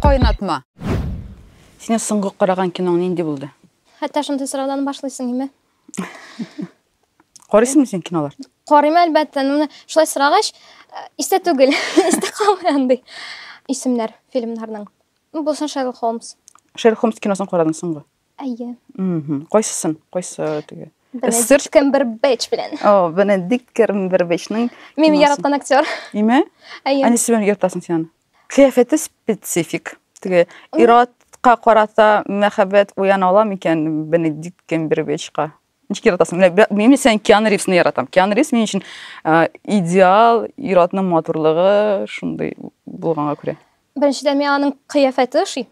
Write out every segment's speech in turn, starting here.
Кайнатма. Сине соңгы караган киноң нинди булды? Хәтта шундый сораудан башлыйсың име? Карыйсыңмы син кинолар? Карыйм әлбәттә, ну шулай сорагач, э, истә түгел, истә калмый андый исемнәр фильмнарның. Ну, булсын Шерлок Холмс. Шерлок Холмс киносын карадың соңгы? Әйе. Мм, кайсысын? Кайсы теге? Бенедикт Камбербэтч белән. О, Бенедикт Камбербэтчның. Мин яраткан актер. Име? Әйе. Әни сен яратасың син. Кыяфәте специфик. Теге ират ка карата мәхәббәт уяна ала микән Бенедикт Камбербэтчка? Ничек яратасың? Менә мин сен Киану Ривзны яратам. Киану Ривз минем өчен идеал иратның матурлыгы шундый булганга күрә. Беренчедән миңа аның кыяфәте ошый.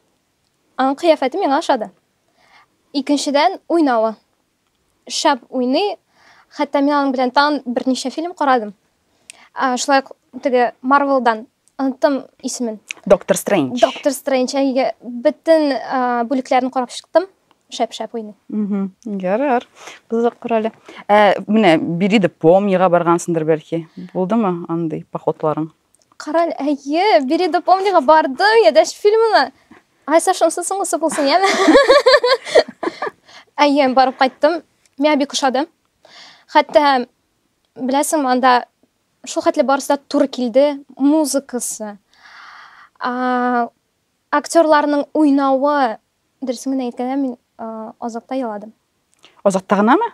Аның кыяфәте миңа ошады. Икенчедән, уйнавы. Шәп уйный. Хәтта мин аның белән тагын берничә фильм карадым. Ә, шулай ук теге Марвелдан оныттым исемен. Доктор Стрэндж. Доктор Стрэндж. Әйе, бөтен бүлекләрен карап чыктым шәп-шәп уйный. Ярар. Кызык корале. Ә менә Бириде помнига баргансыңдыр бәлки. Булдымы андый походларың? Кара, әйе, бире до помнега барды, я дәш фильмына. Ай, Саша, онсы соңгысы булсын, яме. Әйе, барып кайттым. Миңа бик ошады. Хәтта, беләсең, анда шул хәтле барысы да туры килде. Музыкасы, актерларның уйнавы, дөресен генә әйткәндә, мин азакта еладым. Азакта гынамы?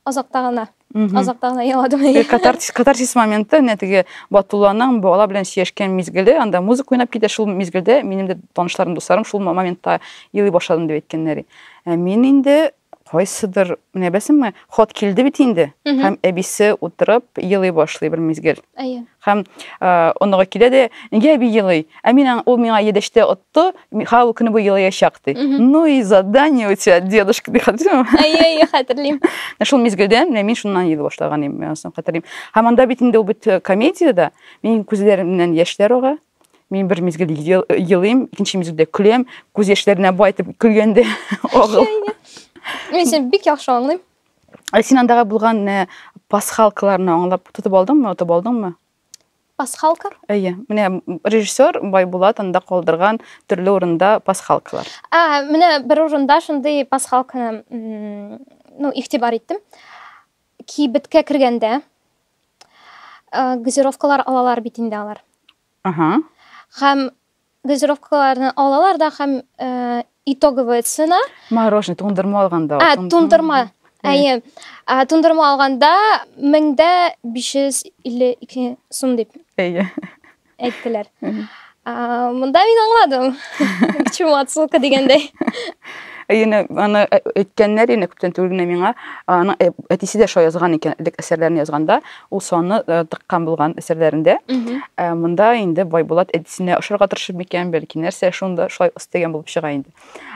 Азакта гына. Азакта гына еладым. Катарсис, катарсис моменты, менә теге Батулланың бала белән сөйләшкән мизгеле, анда музыка уйнап китә, шул мизгелдә минем дә танышларым, дусларым шул моментта елый башладым дип әйткәннәр. Ә мин инде кайсыдыр, менә беләсеңме, хат килде бит инде. Һәм әбисе утырып елый башлый бер мизгел. Әйе. Һәм оныгы килә дә, нигә әби елый? Ә мин ул миңа едәштә отты, ха ул көне буе елаячак ди. Ну и задание у тебя, дедушка, ди хәтерлим. Әйе, хәтерлим. Шул мизгелдән менә мин шуннан елый башлаган идем, мин аны хәтерлим. Һәм анда бит инде ул бит э, комедиядә, мин күзләремнән яшьләр ага. Мин бер мизгел елыйм, икенче мизгелдә көләм, күз яшьләренә байтып көлгәндә агыл. Мин сен бик яхшы аңлыйм. Ә син андагы булган э, пасхалкаларны аңлап тотып алдыңмы, отып алдыңмы? Пасхалка? Әйе. Менә м, режиссер Байбулат анда калдырган төрле урында пасхалкалар. Ә, менә бер урында шундый пасхалканы м, ну, игътибар иттем. Кибеткә кергәндә ә, газировкалар алалар бит инде алар. Ага. Һәм дозировкаларны алалар да һәм э, итоговая цена. Мороженое туңдырма алганда. А, туңдырма. Әйе. Туңдырма алганда 1552 сум дип. Әйе. Әйттеләр. Монда мин аңладым. Чому отсылка дигәндәй. Әйене аны әйткәннәр инде күптән түгел генә миңа. Аның әтисе дә шулай язган икән, элек әсәрләрен язганда. ул санны э, тыккан булган әсәрләрендә. Ә э, монда инде Байбулат әдисенә ошарга тырышып микән, бәлки нәрсә шунда шулай өстәгән булып чыга инде.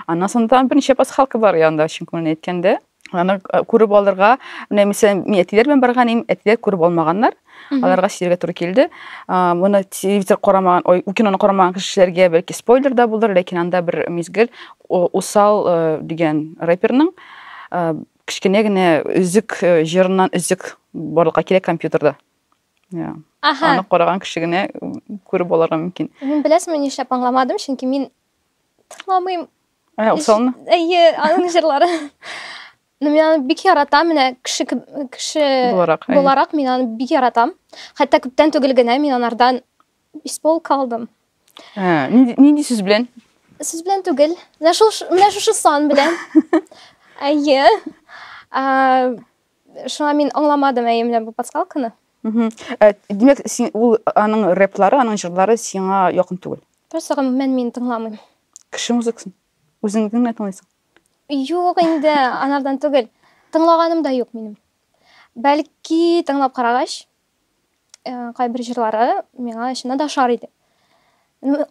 Аннан соң тагын берничә пасхалка бар янда, чын күңелен әйткәндә. Аны э, күреп алырга, менә мәсәлән, мин әтиләр белән барган идем, әтиләр күреп алмаганнар. Аларга сиргә туры килде. Моны телевизор карамаган, ой, киноны карамаган кешеләргә бәлки спойлер да булыр, ләкин анда бер мизгел Усал дигән рэперның Кечкенә генә өзек э, җырыннан өзек барлыкка килә компьютерда. Я. Аха. Аны караган кеше генә күреп алырга мөмкин. Мин беләсеңме нишләп аңламадым, чөнки мин тыңламыйм. Ә, усалны? Әйе, аның җырлары. Ну, мин аны бик яратам, менә кеше кеше буларак, буларак мин аны бик яратам. Хәтта күптән түгел генә мин анардан Бис булып калдым. Ә, нинди, нинди сүз белән? Сүз белән түгел. Менә шул менә шушы сан белән. Әйе. Ә, шуңа мин аңламадым әйе менә бу пасхалканы. Ә, димәк, син ул аның рэплары, аның җырлары сиңа якын түгел. Просто гомумән мин тыңламыйм. Кеше музыкасын үзең генә тыңлыйсың. Юк инде, анардан түгел. Тыңлаганым да юк минем. Бәлки тыңлап карагач, э, кайбер җырлары миңа чыннан да ошар иде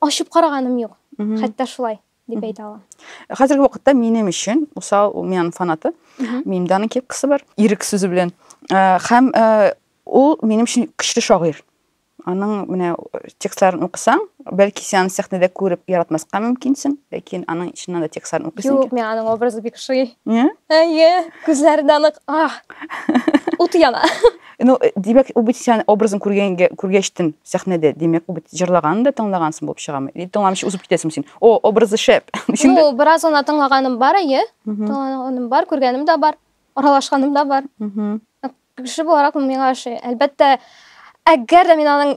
ачып караганым юк хәтта шулай дип әйтә алам хәзерге вакытта минем өчен усал мин аның фанаты минем дә аның кепкасы бар ирек сүзе белән э, һәм э, ул минем өчен көчле шагыйрь аның менә текстларын укысаң бәлки сен аны сәхнәдә күреп яратмаска мөмкинсең ләкин аның чыннан да текстларын укыйсың юк миңа аның образы бик ошый әйе күзләре дә нык ут яна Ну, э, димәк, ул бит сән образын күргәнгә күргәчтен сәхнәдә, димәк, ул бит җырлаган да тыңлагансың булып чыгамы? И тыңламыйча узып китәсең син. О, образы шәп. Ну, бераз гына тыңлаганым бар, әйе. Тыңлаганым бар, күргәнем дә бар, аралашканым да бар. Кеше буларак миңа ошый. Әлбәттә, әгәр дә мин аның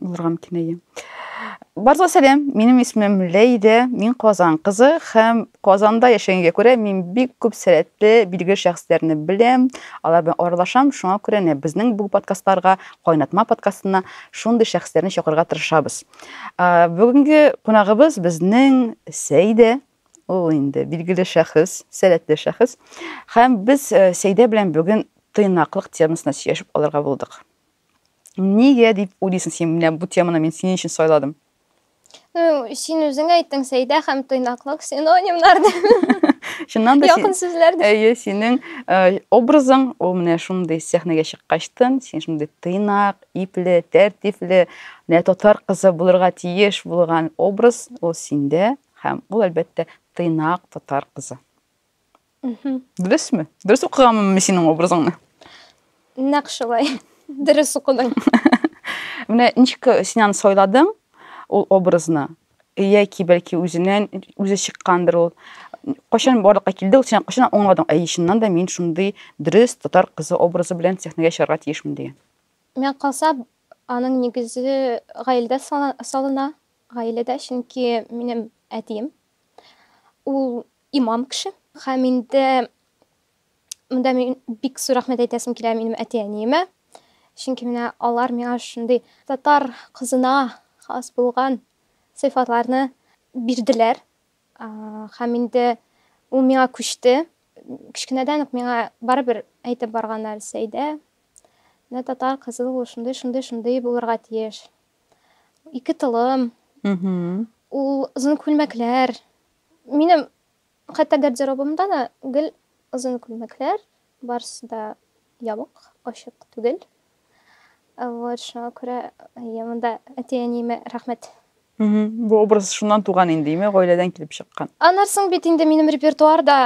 булырга мөмкин әйе барлыгы сәлам минем исемем ләйдә мин казан кызы һәм казанда яшәгәнгә күрә мин бик күп сәләтле билгеле шәхесләрне беләм алар белән аралашам шуңа күрә нә безнең бу подкастларга кайнатма подкастына шундый шәхесләрне чакырырга тырышабыз бүгенге кунагыбыз безнең сәйдә ул инде билгеле шәхес сәләтле шәхес һәм без э, сәйдә белән бүген тыйнаклык темасына сөйләшеп алырга булдык Нигә дип уйлыйсың син, менә бу теманы мин синең өчен сайладым? Ну, син үзең әйттең, Сәйдә һәм тыйнаклык синонимнар дип. Чыннан да Якын сүзләр дип. Әйе, синең э, образың, ул менә шундый сәхнәгә чыккачтын, син шундый тыйнак, ипле, тәртипле, менә татар кызы булырга тиеш булган образ ул синдә һәм ул әлбәттә тыйнак татар кызы. Дөресме? Дөрес укыганмын мин синең образыңны? Нәкъ шулай. Дөрес укыдың. Менә ничек син аны сайладың, ул образны? Яки бәлки үзеннән үзе чыккандыр ул. Кайчан барлыкка килде ул, син кайчан аңладың, әй, чыннан да мин шундый дөрес татар кызы образы белән сәхнәгә чыгарга тиешмен дигән? Миңа калса, аның нигезе гаиләдә салына, гаиләдә, чөнки минем әтием ул имам кеше. Һәм инде монда мин бик зур рәхмәт әйтәсем килә минем әти-әниемә. Чөнки менә алар миңа шундый татар кызына хас булган сыйфатларны бирделәр. Һәм инде ул миңа күчте. Кечкенәдән үк миңа барыбер әйтеп барганнар, Сәйдә, менә татар кызы ул шундый, шундый, шундый булырга тиеш. Ике толым. Ул озын күлмәкләр Минем хәтта гардеробымда да гел озын күлмәкләр, барысы да ябык, ачык түгел. Вот, шуңа күрә әйе, монда әти-әниемә рәхмәт. Бу образ шуннан туган инде, име, гаиләдән килеп чыккан. Аннан соң бит инде минем репертуарда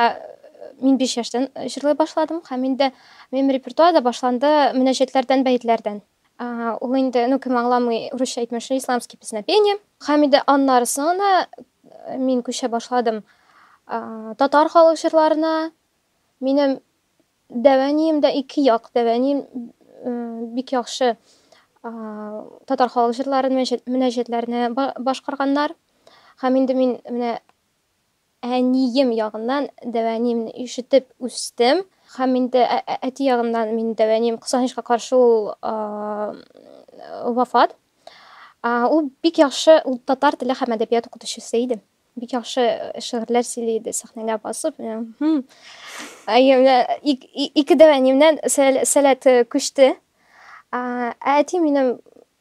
мин 5 яшьтән җырлый башладым һәм инде минем репертуар да башланды мөнәҗәтләрдән, бәетләрдән. Ул инде, ну, кем аңламый, урысча әйтмешли, исламский песнопение. Һәм инде аннары соңына мин күчә башладым татар халык җырларына. Минем дәвәнием дә ике як, дәвәнием бик яхшы татар халык җырларын, мөнәҗәтләрне башкарганнар. Һәм инде мин менә Әнием ягыннан дәвәнимне ишетеп үстем һәм инде әти ягыннан минем дәвәним, кызганычка каршы, ул вафат. Ул бик яхшы, ул татар теле һәм әдәбият укытучысы иде. Бик яхшы шигырьләр сөйли иде, сәхнәгә басып. Ике дәвәнимнән сәләт күчте. Ә әти минем,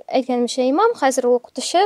әйткәнемчә, имам, хәзер ул укытучы.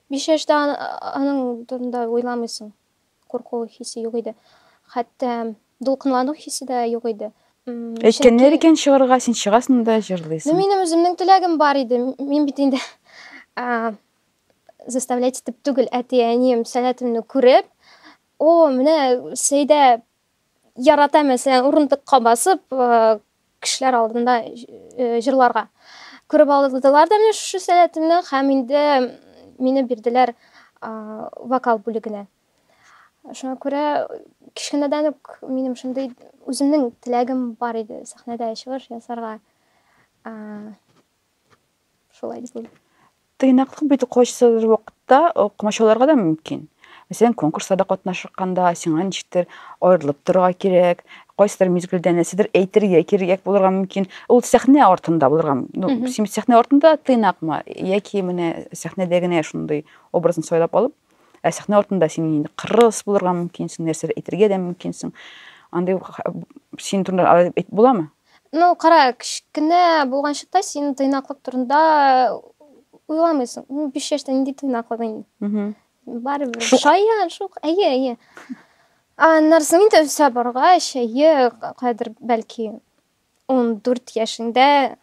Биш яшьтә аның турында уйламыйсың. Курку хисе юк иде. Хәтта дулкынлану хисе дә юк иде. Әйткәннәр икән чыгарга, син чыгасың да җырлыйсың. Ну, минем үземнең теләгем бар иде. Мин бит инде заставлять итеп түгел, әти-әнием сәләтемне күреп, о, менә Сәйдә Ярата мәсәлән урындыкка басып кешеләр алдында җырларга. Күреп алдылар да менә шушы сәләтемне һәм инде мине бирделәр вокал бүлегенә. Шуңа күрә кечкенәдән үк минем шундый үземнең теләгем бар иде сәхнәдә чыгыш ясарга. Шулай дисең. Тыйнаклык бит укучысыз вакытта комачауларга да мөмкин. Мәсәлән, конкурсларда катнашканда сиңа ничектер аерылып торырга кирәк, кайсыдыр мизгелдә нәрсәдер әйтергә кирәк булырга мөмкин. Ул сәхнә артында булырга ну, син сәхнә артында тыйнакмы яки менә сәхнәдә генә шундый образны сайлап алып, ә сәхнә артында син инде кырыс булырга мөмкинсең, нәрсәдер әйтергә дә мөмкинсең. Андый син турында буламы? Ну, кара, кечкенә булган чакта син тыйнаклык турында уйламыйсың. Ну, 5 яшьтә нинди тыйнаклык инде. Барыбер. Шаян, шук. Әйе, әйе. Аннарсын инде үсә баргач, әйе, кайдыр бәлки 14 яшендә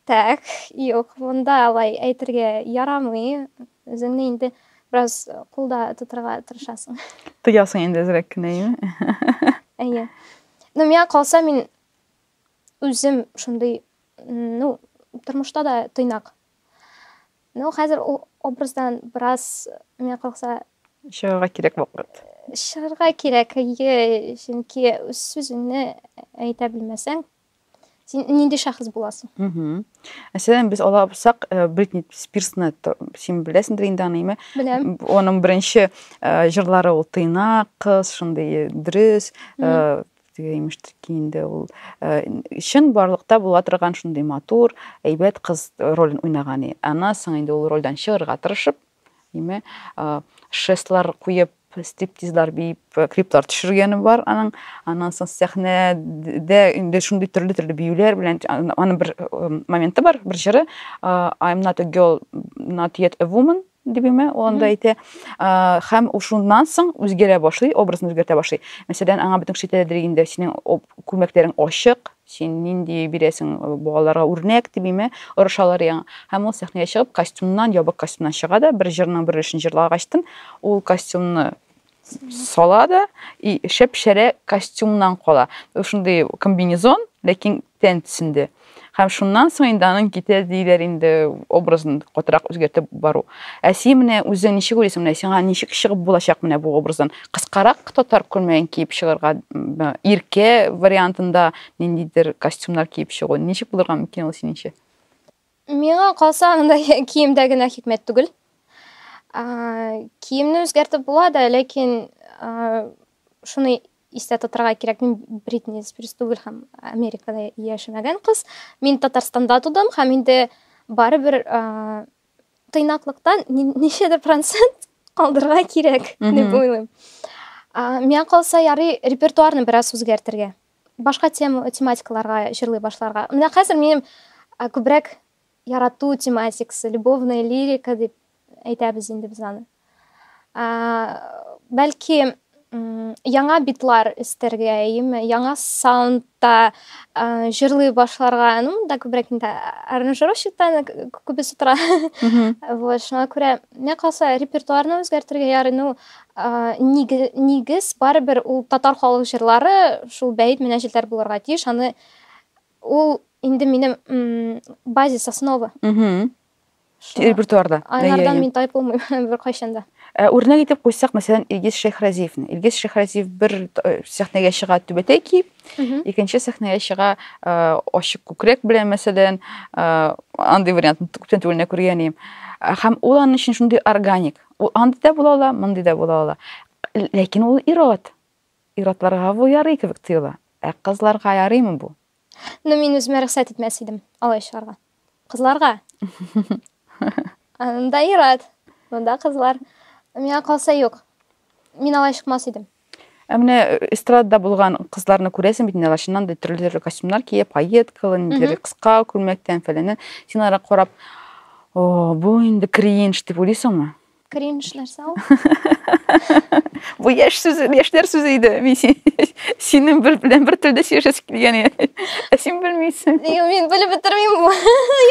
Так, юк, монда алай әйтергә ярамый. Үзеңне инде бераз кулда тотырга тырышасың. Тоясың инде әзрәк кенә, әйеме? Әйе. Ну, миңа калса, мин үзем шундый, ну, тормышта да тыйнак. Ну, хәзер ул образдан бераз миңа калса чыгарга кирәк вакыт. Чыгарга кирәк, әйе, чөнки сүзеңне әйтә белмәсәң, син нинди шәхес буласың мәсәлән без ала алсак э, бритни спирсны син беләсеңдер инде аныймы беләм оның бірінші э, жырлары ол тыйнак қыз шындай дөрес э, теге имештер киенде ул чын барлыкта була торган шундый матур әйбәт кыз ролен уйнаган ана соң инде ул рольдән чыгарга тырышып Име, шестлар куеп, стриптизлар биеп, клиплар төшергәне бар аның. Аннан соң сәхнәдә инде шундый төрле-төрле биюләр белән аның бер моменты бар, бер җыры I am not a girl, not yet a woman дибеме, ул анда әйтә. Һәм шуннан соң үзгәрә башлый, образын үзгәртә башлый. Мәсәлән, аңа бөтен кеше әйтәдер инде, синең күлмәкләрең ачык, Син нинди бирәсең балаларга үрнәк, димиме? Орышалар яңа. Һәм ул сәхнәгә чыгып, костюмнан, ябык костюмнан чыга да, бер җырның бер өлешен җырлагачтын, ул костюмны сала да, и шәп-шәрә костюмнан кала. Ул шундый комбинезон, ләкин тән төсендә. Һәм шуннан соң инде аның китә диләр инде образын катырак үзгәртеп бару. Ә син менә үзең ничек уйлыйсың, менә сиңа ничек чыгып булачак менә бу образдан? кыскарак татар күлмәген киеп чыгарга иркә вариантында ниндидер костюмнар киеп чыгу ничек булырга мөмкин ул синеңчә миңа калса анда киемдә генә хикмәт түгел киемне үзгәртеп була да ләкин шуны истә тотарга кирәк мин бритни спирс түгел һәм америкада яшәмәгән кыз мин татарстанда тудым һәм инде барыбер тыйнаклыктан ничәдер процент калдырырга кирәк дип уйлыйм миңа калса ярый репертуарны бераз үзгәртергә башка тема тематикаларга җырлый башларга менә хәзер минем күбрәк ярату тематикасы любовная лирика дип әйтәбез инде без аны Бәлки яңа битлар өстәргә, яме яңа саундта җырлый башларга, ну, монда күбрәк инде аранжировщиктан күбесе тора. Вот, шуңа күрә, миңа калса, репертуарны үзгәртергә ярый, ну, нигез барыбер ул татар халык җырлары, шул бәет менә җилләр булырга тиеш, аны ул инде минем базис, основа. репертуарда айнардан мин тайып булмыйм беркайчан да ә, үрнәк итеп куйсак мәсәлән илгиз шәйхразиевны илгиз шәйхразиев бер э, сәхнәгә чыга түбәтәй киеп икенче сәхнәгә чыга э, ачык күкрәк белән мәсәлән э, андый вариантны күптән түгел күргән идем һәм ул аның өчен шундый органик ул андый да була ала мондый да була ала ләкин ул ирод иродларга бу ярый кебек тоела ә кызларга ярыймы бу Ну, мин үземә рөхсәт итмәс идем алай чыгарга. Кызларга. Анда ират, монда кызлар. Миңа калса юк. Мин алай чыкмас идем. Ә менә э, эстрадада булган кызларны күрәсең бит, нәләр чыннан да төрле төрле костюмнар киеп, пайеткалы, нидер кыска күлмәктән фәләнен. Син ара карап, о, бу инде кринж дип уйлыйсыңмы? Кринж нәрсә ул? Бу яшь сүзе, яшьләр сүзе иде. Мин синең бер белән бер телдә сөйләшәсе килгән иде. Ә син белмисең. Юк, мин белеп бетермим бу.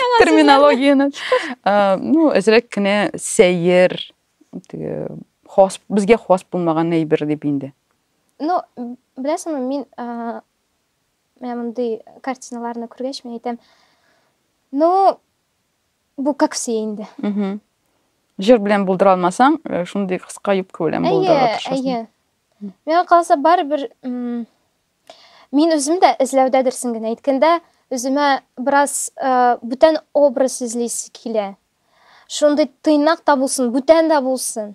Яңа терминологияне. Ну, әзрәк кенә сәер, теге хас, безгә хас булмаган әйбер дип инде. Ну, беләсеңме, мин менә мондый картиналарны күргәч, мин әйтәм, ну, Бу как все инде. Җыр белән булдыра алмасаң, э, шундый кыска юбка белән булдыра тырышасың. Әйе, әйе. Миңа калса барыбер мин үзем дә эзләүдәдерсең генә әйткәндә, үземә бераз э, бүтән образ эзлисе килә. Шундый тыйнак та булсын, бүтән дә булсын.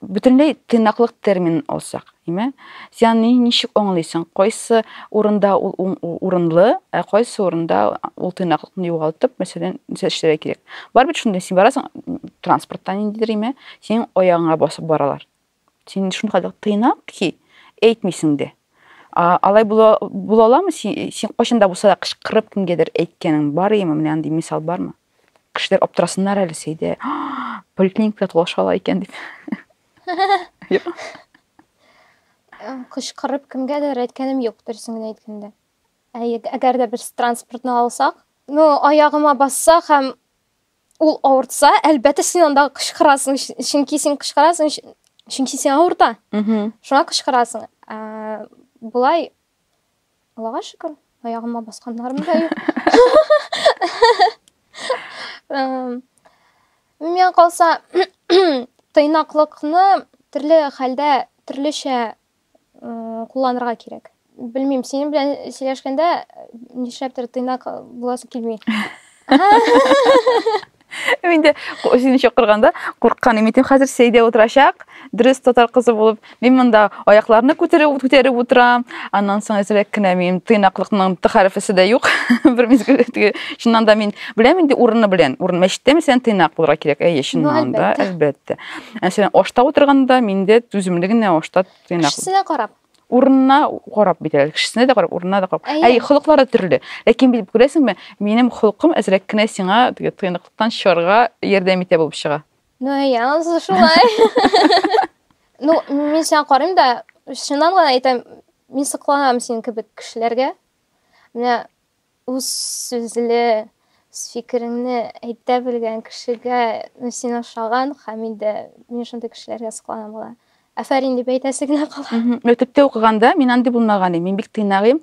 бөтенләй тыйнаклык терминын алсак, име? Син аны ничек аңлыйсың? Кайсы урында ул урынлы, ә кайсы урында ул тыйнаклыкны югалтып, мәсәлән, нәрсә эшләргә кирәк? Бар бит шундый, син барасың транспортта ниндидер, име? Синең аягыңа басып баралар. Син шундый тыйнак ки, әйтмисең дә. Алай була, була аламы? Син, син кайчан да булса да кычкырып кемгәдер әйткәнең бар име? Менә андый мисал бармы? Кешеләр аптырасыннар әле Сәйдә. Поликлиникада тулаша ала икән дип. Кычкырып кемгәдер әйткәнем юк, дөресен генә әйткәндә. Ә әгәр дә без транспортны алсак, ну, аягыма басса һәм ул авыртса, әлбәттә син анда кычкырасың, чөнки син кычкырасың, чөнки син авырта. Шуңа кычкырасың. Ә, болай Аллага шөкер, аягыма басканнарым да юк. Миңа калса, тыйнаклыкны төрле хәлдә төрлечә кулланырга кирәк. Белмим, синең белән сөйләшкәндә нишләптер тыйнак буласы килми. Мин дә сине чакырганда курыккан идем. Мин хәзер сәйдә утырачак, дөрес татар кызы булып, мин монда аякларны күтәреп күтәреп утырам. Аннан соң әзрәк кенә мин тыйнаклыкның т хәрефесе дә юк. Бер мизгел теге чыннан да мин беләм инде урыны белән. Урын мәчеттә мәсәлән тыйнак булырга кирәк. Әйе, чыннан да, әлбәттә. Мәсәлән, ашта утырганда миндә түземле генә ашта тыйнак. Кешесенә карап. урынына карап бит әле кешесенә дә карап урынына да карап әй холыклары төрле ләкин бит күрәсеңме минем холкым әзрәк кенә сиңа тыйнаклыктан чыгарга ярдәм итә булып чыга ну әйе анысы шулай ну мин сиңа карыйм да чыннан гына әйтәм мин сокланам синең кебек кешеләргә менә Үз сүзле, үз фикереңне әйтә белгән кешегә син ошаган, Хәмидә, мин шундый кешеләргә сокланам гына. Афәрин дип әйтәсе генә кала. Мәктәптә укыганда мин андый булмаган идем. Мин бик тыйнагыйм.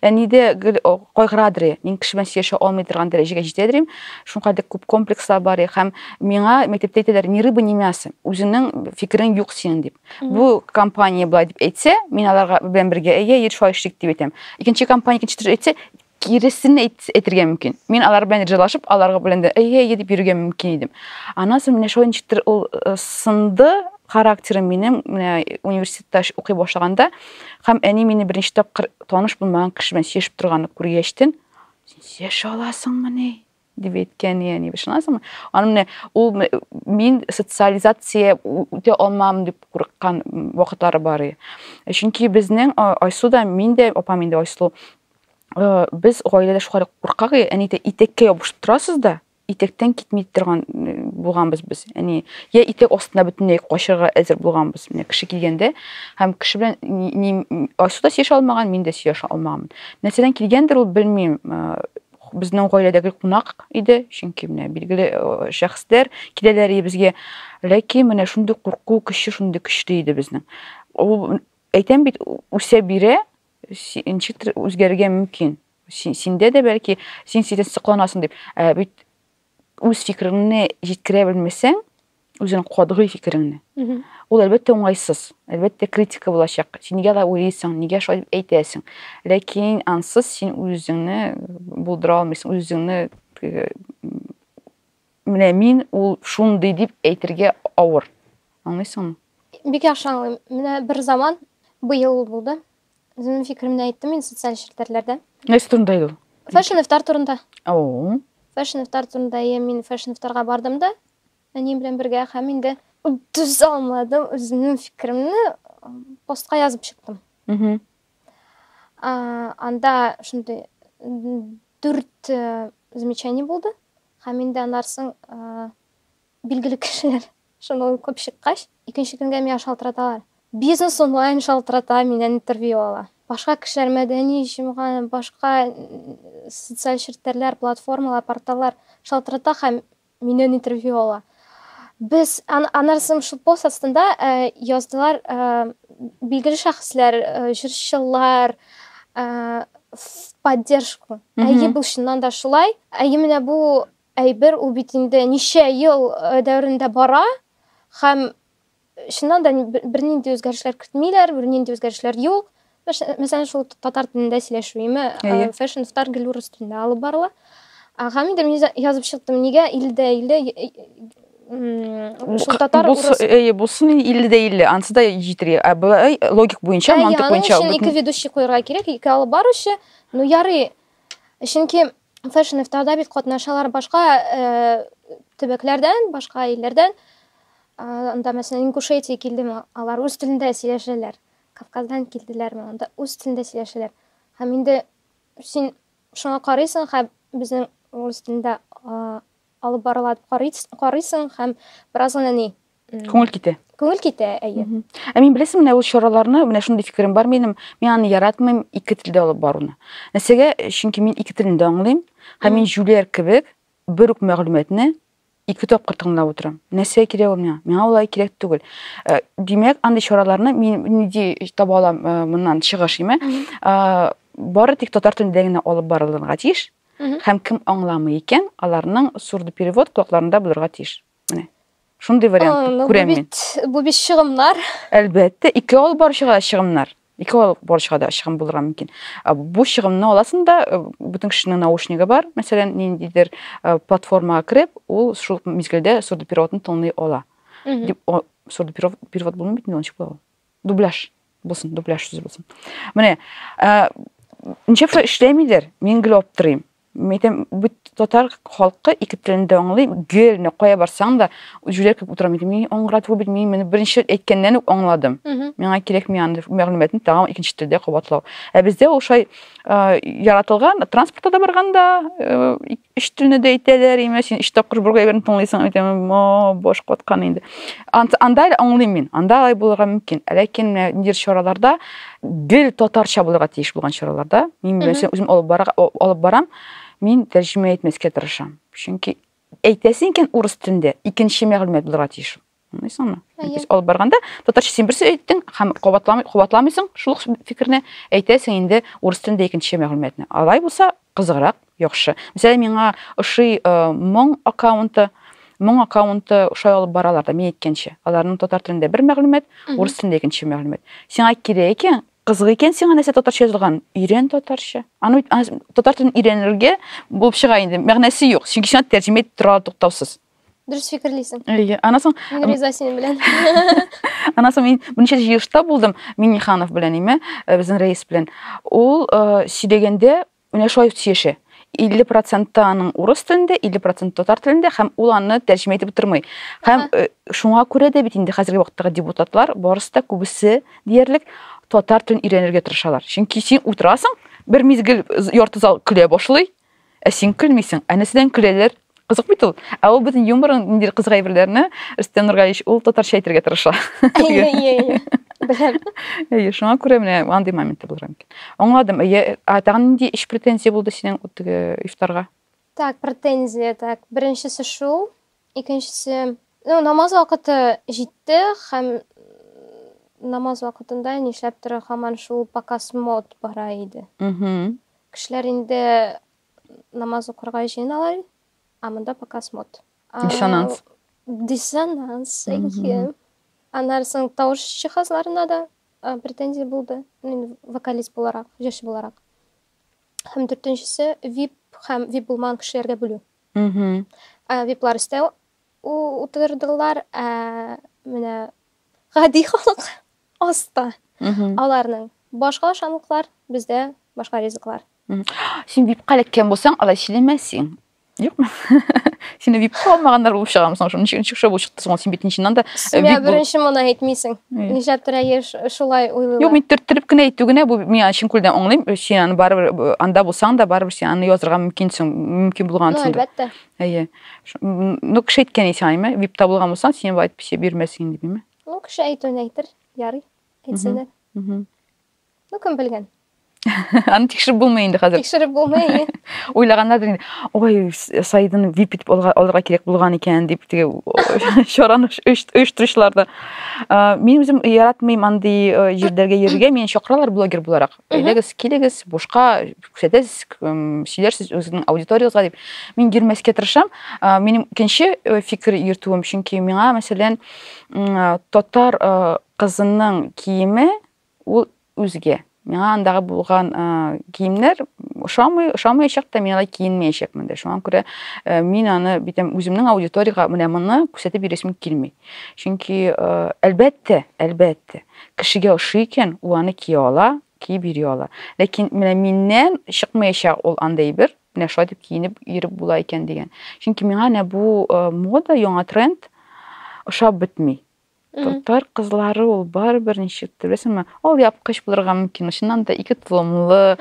Әни дә гел кайгырадыр. Мин кеше белән сөйләшә алмый торган дәрәҗәгә җитәдер идем. Шуңа кадәр күп комплекслар бар. Һәм миңа мәктәптә әйтәләр, ни рыба, ни мясо. Үзеңнең фикерең юк синең дип. Бу компания болай дип әйтсә, мин аларга белән бергә әйе, ир шулай эшлик дип әйтәм. Икенче компания икенче төрле әйтсә, киресен әйтергә мөмкин. Мин алар белән ризалашып, аларга белән дә әйе, әйе дип йөрергә мөмкин идем. Аннан соң менә шулай ничектер ул э, сынды характерым минем менә университетта укый башлаганда һәм әни мине беренче тапкыр таныш булмаган кеше белән сөйләшеп торганны күргәчтен, син сөйләшә аласыңмыни? дип әйткән яни ышанасыңмы аны менә ул мин социализация үтә алмам дип курыккан вакытлары бар чөнки безнең айсу да мин дә апам инде айсу э, без гаиләдә шулай куркак әни әйтә итәккә ябышып торасыз да итектән китми торган э, булганбыз без яни я итек астына бөтенләй качырга әзер булганбыз менә кеше килгәндә һәм кеше белән айсу да сөйләшә алмаган мин дә сөйләшә алмаган нәрсәдән килгәндер ул белмим э, безнең гаиләдәге кунак иде, чөнки менә билгеле э, шәхесләр киләләр безгә. Ләкин менә шундый курку көче шундый көчле иде безнең. Ул әйтәм бит, үсә бирә, ничектер үзгәрергә мөмкин. Синдә дә бәлки син сидән сокланасың дип. Ә бит үз фикереңне җиткерә белмәсәң, үзең катгый фикереңне. Ул әлбәттә уңайсыз. Әлбәттә критика булачак. Син нигә да уйлыйсың, нигә шулай дип әйтәсең? Ләкин ансыз син үзеңне булдыра алмыйсың, үзеңне менә мин ул шундый дип әйтергә авыр. Аңлыйсыңмы? Бик яхшы аңлыйм. Менә бер заман быел булды. Үземнең фикеремне әйттем мин социаль челтәрләрдә. Нәрсә турында иде ул? Фэшн ифтар турында. О. Фэшн ифтар турында я мин фэшн ифтарга бардым да, әнием белән бергә һәм инде түзә алмадым, үземнең фикеремне постка язып чыктым. Угу. Анда шундый дүрт э, замечание булды һәм инде аннарсын э, Билгеле кешеләр шуны укып чыккач, икенче көнгә миңа шалтыраталар. Бизнес онлайн шалтырата, миннән интервью ала. Башка кешеләр, мәдәни җомга, башка социаль челтәрләр, платформалар, порталлар шалтырата һәм миннән интервью ала. Без аннары соң шул пост астында яздылар, билгеле шәхесләр, җырчылар, в поддержку. Әйе, бу чыннан да шулай. Әйе, менә бу Әйбер ул бит инде ничә ел дәверендә бара һәм чыннан да бернинди үзгәрешләр кертмиләр, бернинди үзгәрешләр юк. Мәсәлән, шул татар телендә сөйләшү име, фэшн стар гел урыс телендә алып барыла. Һәм инде мин язып чыктым, нигә илдә илдә шул татар урыс әйе булсын илле дә илле анысы да җитергә ә былай логик буенча мантык буенча аның өчен ике ведущий куярга кирәк ике алып баручы ну ярый чөнки фэшн ифтарда бит катнашалар башка төбәкләрдән башка илләрдән анда мәсәлән ингушетия килдеме алар үз телендә сөйләшәләр кавказдан килделәрме анда үз телендә сөйләшәләр һәм инде син шуңа карыйсың һәм безнең рус телендә алып барыла дип карыйсың һәм бераз гына ни Күңел китә. Күңел китә, әйе. Ә мин беләсең, менә ул чараларны, менә шундый фикерем бар минем, мин аны яратмыйм ике телдә алып баруны. Нәрсәгә? Чөнки мин ике телен дә аңлыйм, һәм мин җүләр кебек бер үк мәгълүматны ике тапкыр тыңлап утырам. Нәрсә кирәк ул миңа? Миңа улай кирәк түгел. Э, димәк, андый чараларны мин нинди таба алам э, моннан чыгыш име? Э, бары тик татар телендә генә алып барылырга тиеш. Һәм кем аңламый икән, аларның сурдоперевод колакларында булырга тиеш. Менә. Шундый вариант күрәм мин. Бу бит чыгымнар. Әлбәттә, ике ал бар чыга чыгымнар. Ике ал бар чыга да чыгым булырга мөмкин. Бу чыгымны аласың да, э, бүтән кешенең наушнигы бар, мәсәлән, ниндидер э, платформага киреп, ул шул мизгелдә сурдопереводны тыңлый ала. Дип, сурдоперевод перевод булмый бит, ничек була ул? Дубляж булсын, дубляж сүзе булсын. Менә, э, ничек эшләмидер, мин гел аптырыйм. Митем бит татар халкы ике телен дә аңлый, гел не кая барсаң да җүләр кебек утырам идем. Мин аңгырат бу бит мин моны беренче әйткәннән үк аңладым. Миңа кирәкми аны мәгълүматны тагын икенче телдә кабатлау. Ә бездә ул шай яратылган, транспортта да барганда өч телне дә әйтәләр, имә син өч тапкыр бергә әйберне тыңлыйсың, әйтәм, баш каткан инде. Анда аңлыйм мин, анда алай булырга мөмкин. Ләкин нидер чараларда гел татарча булырга тиеш булган чараларда мин нәрсә үзем алып бара алып барам мин тәрҗемә итмәскә тырышам чөнки әйтәсең икән урыс телендә икенче мәгълүмат булырга тиеш аңлыйсыңмы без алып барганда татарча син берсе әйттең һәм кабатламый кабатламыйсың шул фикерне әйтәсең инде урыс телендә икенче мәгълүматны алай булса Кызыграк, яхшы. Мисәлә, миңа ошый э, моң аккаунты, моң аккаунты ошай алып баралар да, мин әйткәнчә. Аларның татар телендә бер мәгълүмат, урыс телендә икенче мәгълүмат. Сиңа кирәк икән, кызык икән сиңа нәрсә татарча язылган, өйрән татарча. Аны бит татар телен өйрәнергә булып чыга инде, мәгънәсе юк, чөнки сиңа тәрҗемә итеп торалар туктаусыз. Дөрес фикерлисең. Әйе. Аннан соң Мин риза синең белән. Аннан соң мин берничә җыелышта булдым Минниханов белән име, э, безнең рәис белән. Ул э, сөйләгәндә менә шулай сөйләшә. 50 проценты аның урыс телендә, 50 проценты татар телендә һәм ул аны тәрҗемә итеп утырмый. Һәм э, шуңа күрә дә бит инде хәзерге вакыттагы депутатлар барысы да күбесе диярлек татар телен өйрәнергә тырышалар. Чөнки син утырасың, бер мизгел з- ярты зал көлә башлый, Ә син көлмисең. Ә нәрсәдән көләләр? Кызык бит ул. Ә ул безнең юморын, ниндидер кызык әйберләрне, Рөстәм Нургалиевич, ул татарча әйтергә тырыша. Әйе, әйе, әйе. Беләм. Әйе, шуңа күрә менә андый моменты булыр мөмкин. Аңладым. Әйе, ә тагын нинди эш претензия булды синең теге ифтарга? Так, претензия, так. Беренчесе шул. Икенчесе, ну, намаз вакыты җитте һәм намаз вакытында нишләптер һаман шул показ мод бара иде. Угу. Кешеләр инде намаз укырга җыеналар, а монда пока смот. Диссонанс. Диссонанс, әйе. Аннан соң тавыш җиһазларына да претензия булды. Мин вокалист буларак, җырчы буларак. Һәм дүртенчесе VIP һәм VIP булмаган кешеләргә бүлү. Мм. VIP-лар өстә утырдылар, ә менә гади халык аста. Аларның башка ашамлыклар, бездә башка ризыклар. Син бик каләккән булсаң, алай сөйләмәсең. Юкмы? Сине бик калмаганнар булып чыгамы соң? Шуның өчен шушы булып чыкты соң, син бит чыннан да Сиңа беренче моны әйтмисең. Нишләптер әйе шулай уйлыйлар. Юк, мин төрттереп кенә әйтү генә бу миңа чын күлдән аңлыйм. Син аны барыбер анда булсаң да, барыбер син аны язырга мөмкинсең, мөмкин булгансың. Әлбәттә. Әйе. Ну, кеше әйткән исә айме, вип табылган булсаң, сине вайт писе бирмәсен дибеме? Ну, кеше әйтүен әйтер, ярый. Әйтсәләр. Ну, кем белгән? Аны тикшереп булмый инде хәзер. Тикшереп булмый. Уйлаганнардыр инде. Ой, Саидын вип итеп алырга кирәк булган икән дип теге чараны оештыручыларда. Мин үзем яратмыйм андый җирләргә йөрергә, мин чакыралар блогер буларак. Әйдәгез, килегез, бушка күрсәтәсез, сөйләрсез үзегезнең аудиториягызга дип. Мин йөрмәскә тырышам. Минем икенче э, фикер йөртүем, чөнки миңа, мәсәлән, татар э, кызының киеме ул үзгә. Миңа андагы булган э, киемнәр ошамый, ошамаячак та, мин алай киенмәячәкмен дә. Шуңа күрә мин аны битем үземнең аудиторияга менә моны күрсәтеп йөрәсем килми. Чөнки әлбәттә, әлбәттә, Кешегә ошый икән, ул аны кия ала, киеп йөри ала. Ләкин менә миннән чыкмаячак ул андый әйбер, менә шулай дип киенеп йөреп була икән дигән. Чөнки миңа менә бу э, мода, яңа тренд ошап бетми. Татар кызлары ул барыбер ничек беләсеңме? Ал япкыч булырга мөмкин, чыннан да ике толымлы,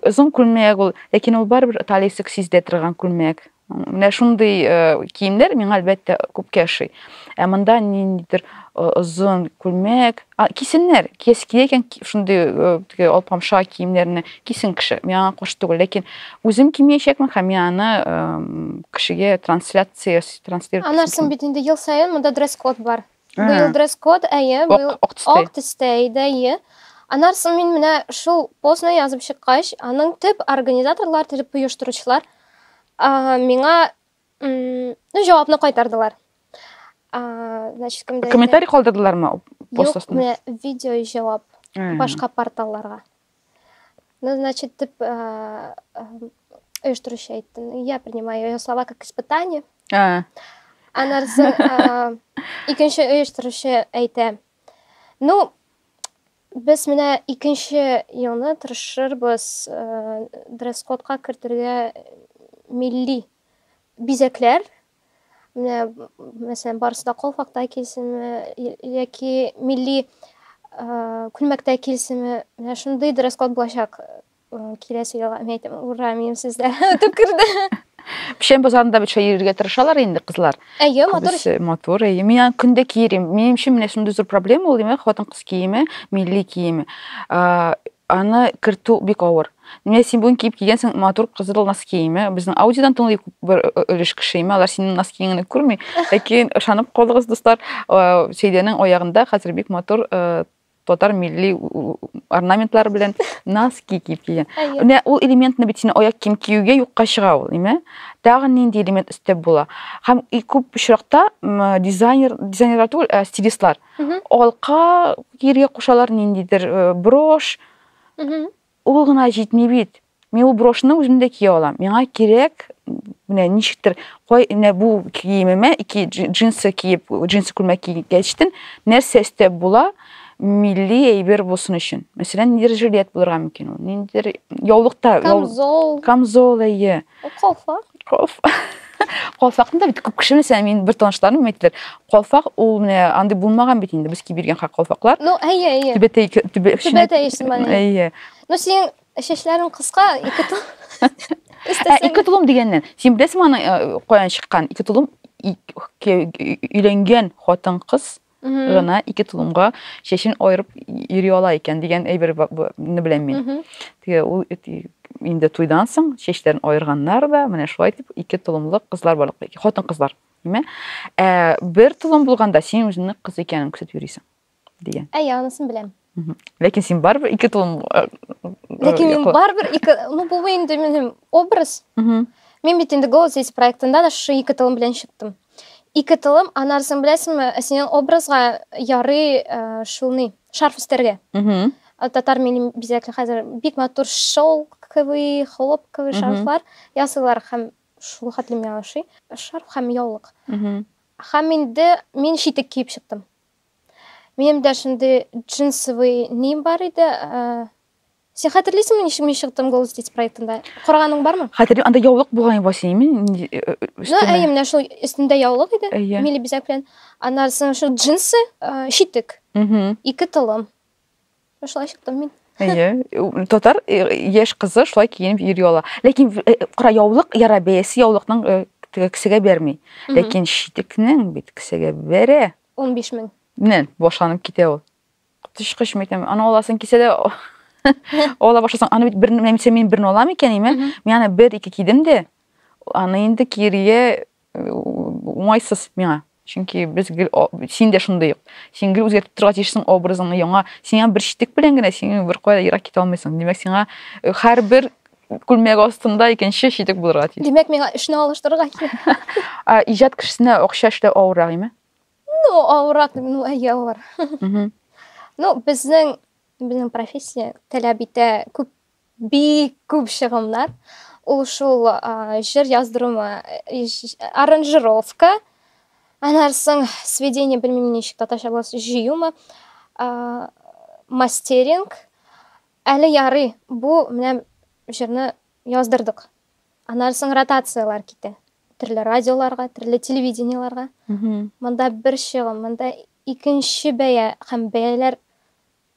озын күлмәк ул, ләкин ул барыбер талиясе сиздә торган күлмәк. Менә шундый киемнәр миңа әлбәттә күпкә ошый. Ә монда ниндидер озын күлмәк, кисеннәр, киес кия икән шундый теге алпамша киемнәрне кисен кеше. Миңа аңа каршы түгел, ләкин үзем кимиячәкмен һәм мин аны кешегә трансляция транслировать. Анарсын бит инде ел саен монда дресс-код бар. Быел дресс-код, әйе, быел ак төстә иде, әйе. Аннан соң мин менә шул постны язып чыккач, аның төп организаторлар, төп оештыручылар миңа ну, җавапны кайтардылар. Значит, комментарий калдырдылармы? Юк, видео җавап башка порталларга. Ну, значит, ты э, оештыручы айттың. Я принимаю ее слова как испытание. А. Анар соң э, икенче оештыручы әйтә. Ну, без менә икенче елны тырышырбыз э, дресс-кодка кертергә милли бизәкләр Менә, мәсәлән, барысы да калфакта килсенме, яки милли күлмәктә килсенме, менә шундый дресс код булачак киләсе елга. Мин әйтәм, ура, минем сүзләр үтеп керде. Печән базарында бит йөрергә тырышалар инде кызлар. Әйе, матур. Күбесе матур. Әйе, мин аны көндә киерим. Минем өчен менә шундый зур проблема ул, димәк, хатын-кыз киеме, милли киеме. Аны кертү бик авыр. Менә син бүген киеп килгәнсең матур кызыл носкиемә. Безнең аудиодан тыңлый күп бер өлеш кеше имә, алар синең носкиеңне күрми. Ләкин ышанып калыгыз, дуслар, Сәйдәнең аягында хәзер бик матур татар милли орнаментлары белән носки киеп килгән. Менә ул элементны бит син аяк кием киюгә юкка чыга ул, имә? Тагын нинди элемент өстәп була? Һәм и күп очракта дизайнер, дизайнерлар түгел, ә стилистлар алка киергә кушалар ниндидер э, брош ул гына җитми бит мин ул брошны үзем дә кия алам миңа кирәк менә ничектер кай менә бу киемемә ике джинсы киеп джинсы күлмәк кигәчтен нәрсә өстәп була милли әйбер булсын өчен мәсәлән ниндидер жилет булырга мөмкин ул ниндидер яулыкта камзол камзол әйе Калфак. Калфак. Калфакны да бит күп кеше белсә, мин бер танышларым әйттеләр. Калфак ул менә андый булмаган бит инде без кибергән хак калфаклар. Ну, әйе, әйе. Түбәтәй түбәтәй исемле. Әйе. Ну, син чәчләрең кыска, ике тул. Ә ике тулым дигәннән, син беләсең аны э, каян чыккан? Ике тулым өйләнгән хатын-кыз гына ике тулымга чәчен аерып йөри ала икән дигән әйберне беләм мин. Теге ул инде туйдан соң чәчләрен аерганнар да, менә шулай дип ике тулымлык кызлар бар, хатын кызлар, димә. Ә бер тулым булганда син үзеңне кыз икәнен күрсәтеп йөрисең дигән. Әйе, анысын беләм. ләкин син барыбер ике тулым э, ләкин мин барыбер ике ну бу инде минем образ мин бит инде голос есть проектында да шушы ике тылым белән чыктым ике тылым анарысын беләсеңме ә синең образга ярый э, шул ни шарф өстәргә татар милли бизәкле хәзер бик матур шелковый хлопковый шарфлар ясыйлар һәм шул хәтле миңа ошый шарф һәм яулык һәм инде мин читек киеп чыктым Минем дә шундый джинсовый ним бар иде. Э, сен хәтерлисеңме, ничек мин чыктым Голос дети проектында? Караганың бармы? Хәтерлим, анда яулык булган иде синеме? Э, э, ну, әйе, менә шул өстендә яулык иде, милли бизәк белән. Аннан соң шул джинсы, шитек. Ике тылым. Шулай чыктым мин. Әйе, татар яшь кызы шулай киенеп йөри ала. Ләкин кара яулык яра бәясе яулыкның кесәгә бәрми. Ләкин шитекнең бит кесәгә бәрә. 15 мең. Менә башланып китә ул. Коточкыч мәйтәм, аны аласын кисә дә ала башласаң, аны бит бер нәрсә мин берне алам икән, име? Мин аны бер ике кидем дә, аны инде киергә э, уңайсыз миңа. Чөнки без гел син дә шундый ук. Син гел үзгәртеп торырга тиешсең образыңны яңа. Сиңа бер читек белән генә син бер кая ерак китә алмыйсың. Димәк, сиңа э, һәрбер күлмәк астында икенче читек булырга тиеш. Димәк, миңа эшне алыштырырга кирәк. Иҗат кешесенә акча эшләү авыррак име? Ну, авыррак, ну, әйе, авыр. Ну, безнең безнең профессия таләп итә күп бик күп чыгымнар. Ул шул җыр яздырума, аранжировка, аннан соң сведение, белмим ничек татарча булса, җыюмы, мастеринг, Әле ярый, бу менә җырны яздырдык. Аннары соң ротацияләр китә. Төрле радиоларга, төрле телевидениеларга. Монда бер чыгым, монда икенче бәя һәм бәяләр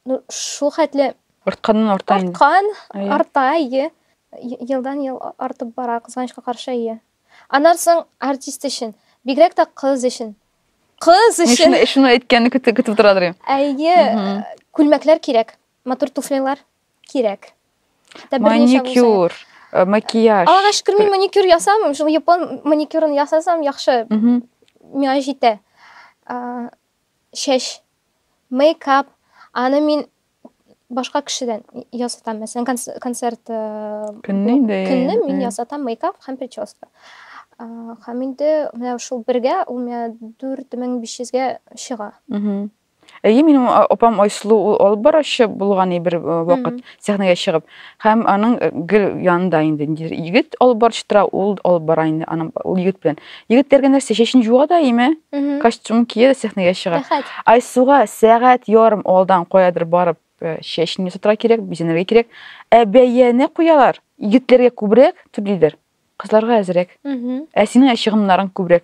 ну, шул хәтле Артканнан арта инде. арткан, Әйе. арта, әйе. Е- Елдан ел а- артып бара, кызганычка каршы, әйе. Аннары соң артист өчен, бигрәк тә кыз өчен. Кыз Мин өчен, шуны, шуны әйткәнне көтеп, көтеп тора дөрим. әйе, Мгм. күлмәкләр кирәк. Матур туфлилар кирәк. Хәтта берничә булса. Маникюр, э, макияж. Аллага шөкер, мин маникюр ясамыйм. Шул япон маникюрын ясасам яхшы. Мгм. Миңа җитә. А, Чәч, мейкап, аны мин башка кешедән ясатам. Мәсәлән, конц- концерт э, Көнне бу- инде. көнне мин э, ясатам мейкап һәм прическа. А, Һәм инде менә шул бергә ул миңа 4500-гә чыга. мгм. Әйе, минем а- апам Айсылу ул алып баручы булган и, бер э, вакыт Мгм. сәхнәгә чыгып. Һәм аның э, гел янында инде ниндидер егет алып баручы тора, ул алып бара инде аның ул егет белән. Егетләргә нәрсә чәчен юа да име, Мгм. костюм кия дә сәхнәгә чыга. Рәхәт. Айсуга сәгать ярым алдан каядыр барып э, чәчен ясатырга кирәк, бизәнергә кирәк. Ә бәяне куялар. Егетләргә күбрәк түлиләр, кызларга әзрәк. Мгм. Ә синең чыгымнарың күбрәк.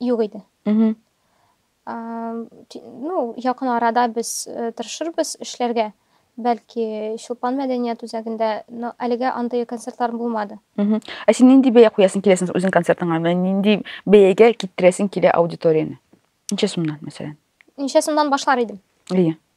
Юк иде. Угу. Ну, якын арада без э, тырышырбыз эшләргә. Бәлки Чулпан мәдәният үзәгендә, но әлегә андый концертлар булмады. Угу. Ә син нинди бәя куясың киләсең үзең концертыңа? Нинди бәягә китерәсең килә аудиторияне? Ничә сумнан, мәсәлән? Ничә сумнан башлар идем? Ие.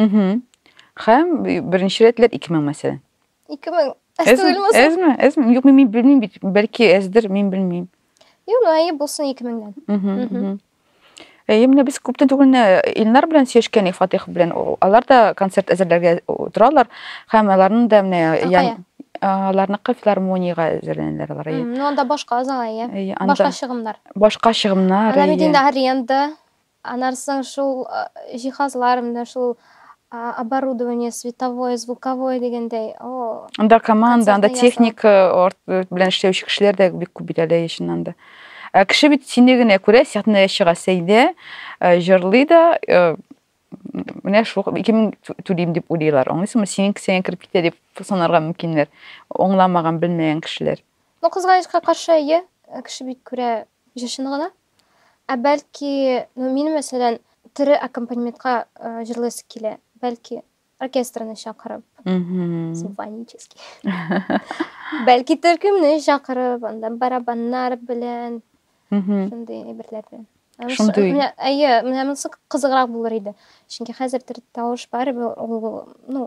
Угу. Хәм, беренче рәтләр 2000 мәсәлән. 2000. Әз түгелме? Әзме? Әзме? Юк, мин белмим бит. Бәлки әздер, мин белмим. Юк, ну әйе булсын 2000-дән. Угу. Әйе, менә без күптән түгел Илнар белән сөйләшкәнек Фатих белән. Алар да концерт әзерләргә торалар. Хәм аларның да менә аларныкы филармониягә әзерләнәләр алар. Ну анда башка зал әйе. Башка чыгымнар. Башка чыгымнар. Анда бит инде аренда Аннан соң шул җиһазлар, менә шул оборудование, световое, звуковое дигәндәй. Анда команда, анда техника белән эшләүче кешеләр дә бик күп бит әле, чыннан да. Ә кеше бит сине генә күрә, сәхнәгә чыга Сәйдә, җырлый да, менә шул ике мең түлим дип уйлыйлар аңлыйсыңмы синең кесәңә кереп китә дип санарга мөмкиннәр аңламаган белмәгән кешеләр ну кызганычка каршы әйе кеше бит күрә җырчыны гына Ә бәлки, ну мин мәсәлән, тере аккомпанементка җырлыйсы килә. Бәлки, оркестрны чакырып. Симфонический. Бәлки төркемне чакырып, анда барабаннар белән, шундый әйберләр белән. Шундый. Әйе, менә монысы кызыграк булыр иде. Чөнки хәзер төр тавыш бар, ул, ну,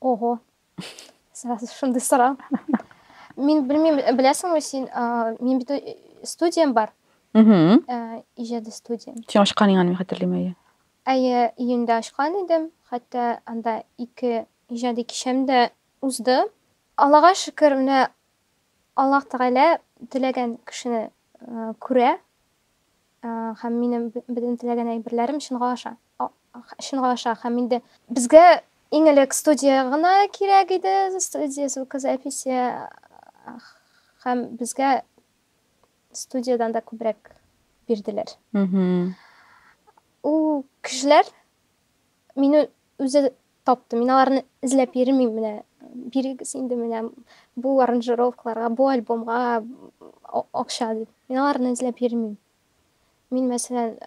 Ого. Сразу шундый сорау. Мин белмим, беләсеңме син, мин бит э, студиям бар. Мм. Э, иҗади студия. Син ашкан янга мин хәтерлим әйе. Әйе, июньдә ашкан идем. Хәтта анда ике иҗади кичәм дә узды. Аллага шөкер, менә Аллаһ Тәгалә теләгән кешене э, күрә. Һәм минем бөтен теләгән әйберләрем чынга аша, чынга аша һәм инде. Безгә иң элек студия гына кирәк иде, студия звукозаписи һәм безгә студиядән дә күбрәк бирделәр. Ул кешеләр Мин үзе тапты. Мин аларны эзләп йөрмим менә. Бирегез инде менә бу аранжировкаларга, бу альбомга акча дип. Мин аларны эзләп йөрмим. Мин мәсәлән,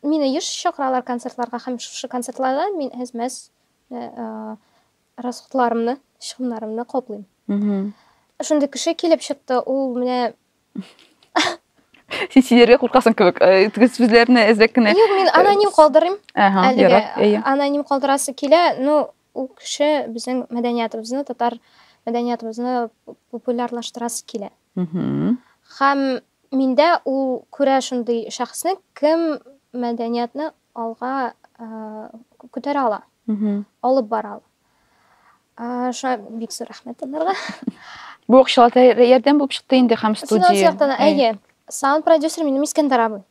мине еш чакыралар концертларга һәм шушы концертларда мин әзмәс расходларымны, чыгымнарымны каплыйм. Шундый кеше килеп чыкты, ул менә син сөйләргә куркасың кебек э, теге сүзләрне эзләп кенә Юк, мин аноним калдырыйм. Әһә, Әлеге ярар, әйе. аноним калдырасы килә. Ну, ул кеше безнең мәдәниятыбызны, татар мәдәниятыбызны популярлаштырасы килә. Мгм. Һәм миндә ул күрә шундый шәхесне, кем мәдәниятны алга э, күтәрә ала, Мгм. алып бара ала. шуңа бик зур рәхмәт аларга бу акчалата ярдәм булып чыкты инде һәм студия финанс яктан әйе саунд продюсер минем искәндәр абый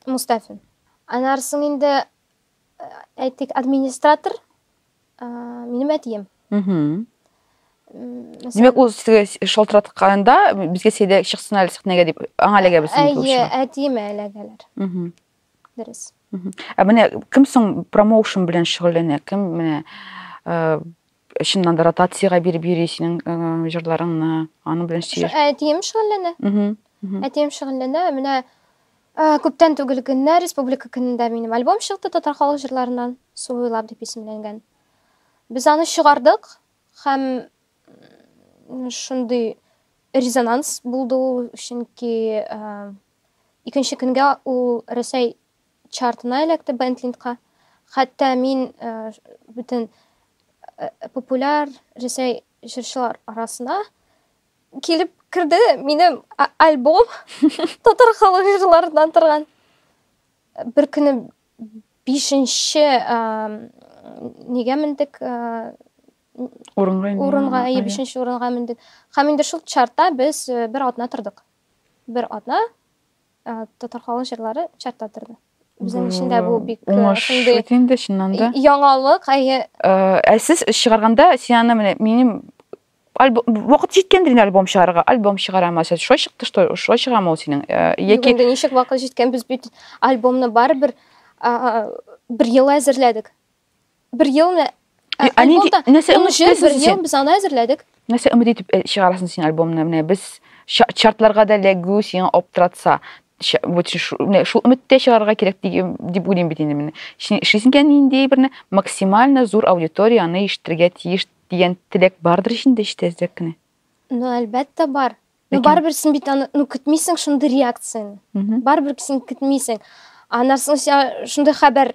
мустафин аннары соң инде әйтик администратор минем әтием демәк ул сезгә шалтыратканда безгә сәйдә чыксын әле сәхнәгә дип аңа эләгәбез әйе әтиемә эләгәләр Дөрес. Ә менә кем соң промоушен белән шөгыльләнә? Кем менә э, чыннан да ротациягә биреп йөри синең э, җырларыңны, аның белән сөйләш. Э, Әтием шөгыльләнә. Мгм, мгм. Әтием шөгыльләнә. Менә э, күптән түгел генә республика көнендә минем альбом чыкты татар халык җырларыннан Су буйлап дип исемләнгән. Без аны чыгардык һәм м, шундый резонанс булды ул, чөнки э, Икенче көнгә ул Рәсәй чартына эләкте Бентлиндка. Хәтта мин бөтен популяр Рәсәй җырчылар арасына килеп керде минем альбом татар халык җырларыннан торган бер көне бишенче нигә мендек урынга урынга бишенче урынга мендек һәм инде шул чартта без бер атна тордык бер атна татар халык җырлары чартта торды. Безнең өчен дә бу бик уңыш бит инде чыннан да. Яңалык, әйе. Ә сез чыгарганда син аны менә минем вакыт җиткәндер инде альбом чыгарырга альбом чыгарамы сез шулай чыкты что шулай чыгамы ул синең яки инде ничек вакыт җиткән без бит альбомны барыбер бер ел әзерләдек бер ел менә Ә, ә нинди- альбомда нәрсә он үмет үч ел итәсең бер син? ел без аны әзерләдек Нәрсә өмет итеп э, чыгарасың син альбомны? Менә без ча- чартларга да эләгү сиңа аптыратса, ча- вот шу- шу- менә шул өметтә чыгарырга кирәк дигем- дип уйлыйм бит инде менә. Син эшлисең икән нинди берне максимально зур аудитория аны ишетергә тиеш дигән теләк бардыр ич инде эчтә әзрәк кенә. ну әлбәттә бар ну Ләкин- барыбер син бит аны ну көтмисең шундый реакцияне Мгм. барыбер син көтмисең аннан соң сиңа шундый хәбәр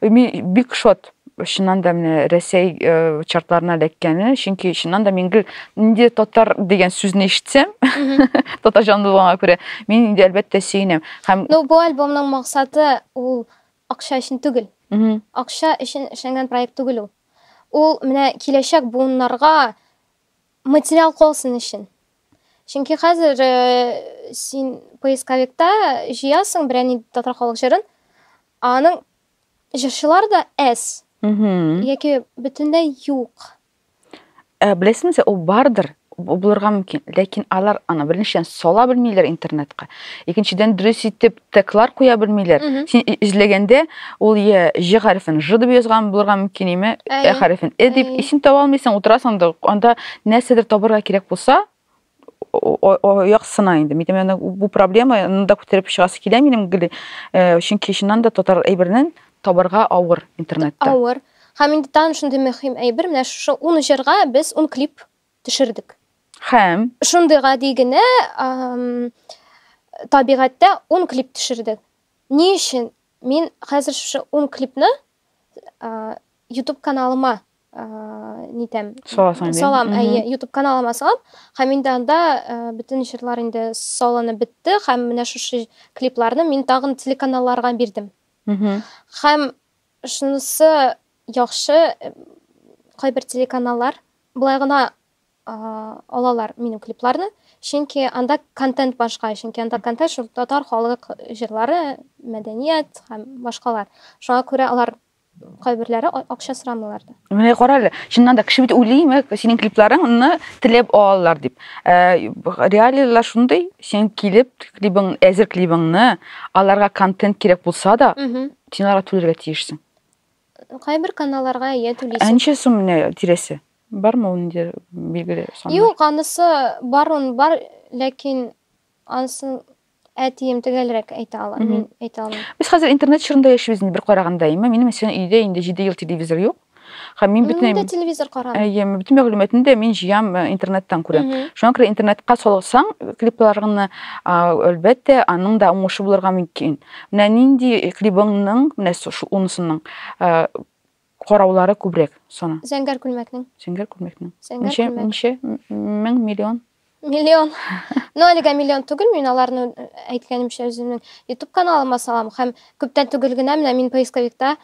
Мин бик шат чыннан да менә Рәсәй э, чартларына эләккәне, чөнки чыннан да мин гел инде татар дигән сүзне ишетсәм, татар җанлы булганга күрә, мин инде әлбәттә сөенәм. Һәм Ну, бу альбомның максаты ул акча өчен түгел. Мгм. Акча өчен эшләнгән проект түгел ул. Ул менә киләчәк буыннарга материал калсын өчен. Чөнки хәзер э, син поисковикта җыясың берәр нинди татар халык җырын, Аның җырчылары да әз. Яки бөтенләй юк. Ә, беләсеңме, ул бардыр, булырга мөмкин. Ләкин алар аны беренчедән сала белмиләр интернетка. Икенчедән дөрес итеп теклар куя белмиләр. Син эзләгәндә ул я ж хәрефен ж дип язган булырга мөмкин име, ә хәрефен э дип, и син таба алмыйсың, утырасың да, анда нәрсәдер табырга кирәк булса, яктысына инде мин әйтәм бу проблеманы да күтәреп чыгасы килә минем гел э, чөнки чыннан да татар әйбернен табарга авыр интернетта авыр һәм инде тагын шундый мөһим әйбер менә шушы ун җырга без ун клип төшердек һәм шундый гади генә табигатьтә ун клип төшердек ни өчен мин хәзер шушы ун клипны ютуб каналыма нитәм саласың инде салам әйе ютуб каналыма салам һәм инде анда бөтен җырлар инде салынып бетте һәм менә шушы клипларны мин тагын телеканалларга бирдем һәм шунысы яхшы кайбер телеканаллар былай гына алалар минем клипларны чөнки анда контент башка чөнки анда контент шул татар халык җырлары мәдәният һәм башкалар шуңа күрә алар Кайберләре акча сорамыйлар да. Менә кара әле, чыннан да кеше бит уйлыймы, синең клипларыңны теләп алалар дип. Э, реалияләр шундый, син килеп клибың, әзер клибыңны, аларга контент кирәк булса да, син аларга түләргә тиешсең. Кайбер каналларга ия түлисең. Ә ничә сум менә тирәсе? Бармы ул инде билгеле сан? Юк, анысы бар, он бар, ләкин Ансын әтием төгәлрәк әйтә ала, мин әйтә алмыйм. Без хәзер интернет чорында яшибез инде бер караганда, әйме, минем өчен өйдә инде 7 ел телевизор юк. Һәм мин бөтен Мин дә телевизор карамыйм. Әйе, бөтен мәгълүматны да мин җыям э, интернеттан күрәм. Шуңа күрә интернетка салсаң клипларыңны, әлбәттә, аның да уңышы булырга мөмкин. Менә нинди клибыңның, менә шул унысының Караулары күбрәк саны. Зәңгәр күлмәкнең. Зәңгәр күлмәкнең. Зәңгәр ничә, күлмәк. Ничә? Мең, миллион? Миллион. Ну, әлегә миллион түгел, мин аларны әйткәнемчә үземнең YouTube каналыма салам һәм күптән түгел генә менә мин поисковикта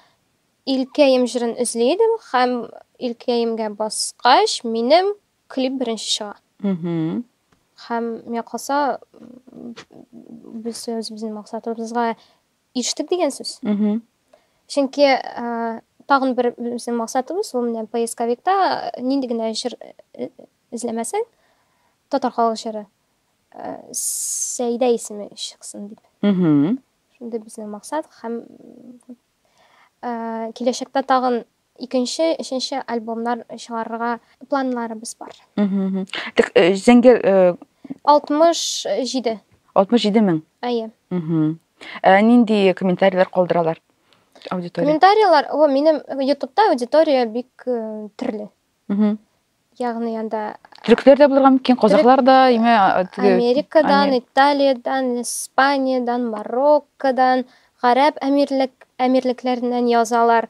Илкәем җырын эзли идем һәм Илкәемгә баскач, минем клип беренче чыга. Угу. Һәм миңа калса, без үзебезнең максатыбызга Иштек дигән сүз. Чөнки тагын бер безнең максатыбыз ул менә поисковикта нинди генә җыр эзләмәсәң, татар халык җыры Сәйдә исеме чыксын дип. Шундый безнең максат һәм киләчәктә тагын Икенче, өченче альбомнар чыгарырга планнарыбыз бар. Так, э, Зәңгәр э, 67. 67 мең. Әйе. Мгм. Ә нинди комментарийлар калдыралар аудитория? Комментарийлар, о, минем ютубта аудитория бик э, төрле. ягъни анда төрекләр дә булырга мөмкин казахлар да имә америкадан италиядән испаниядән мароккодан гарәп әмирлек әмирлекләреннән язалар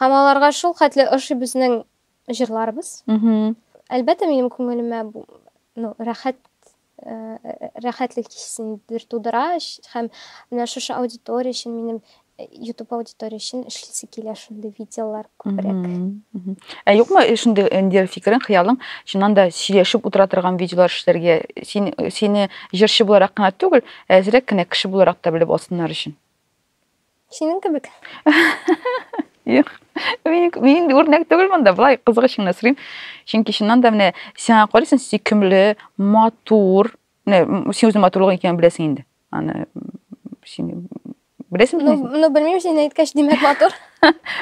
һәм аларга шул хәтле ошый безнең җырларыбыз әлбәттә минем күңелемә ну рәхәт рәхәтлек хисен бер тудыра һәм менә шушы аудитория өчен минем YouTube аудитория өчен эшлисе килә шундый видеолар күбрәк. Ә юкмы шундый инде фикерең, хыялың, чыннан да сөйләшеп утыра торган видеолар эшләргә? Син сине җырчы буларак кына түгел, әзрәк кенә кеше буларак та белеп алсыннар өчен. Синең кебек. Юк. Мин мин үрнәк түгел монда, былай кызык өчен генә сорыйм. Чөнки чыннан да менә сиңа карыйсың, сөйкемле, матур. Менә син үзең матурлыгың икәнен беләсең инде. Аны син беләсең бит. Ну, ну белмим, син әйткәч, димәк матур.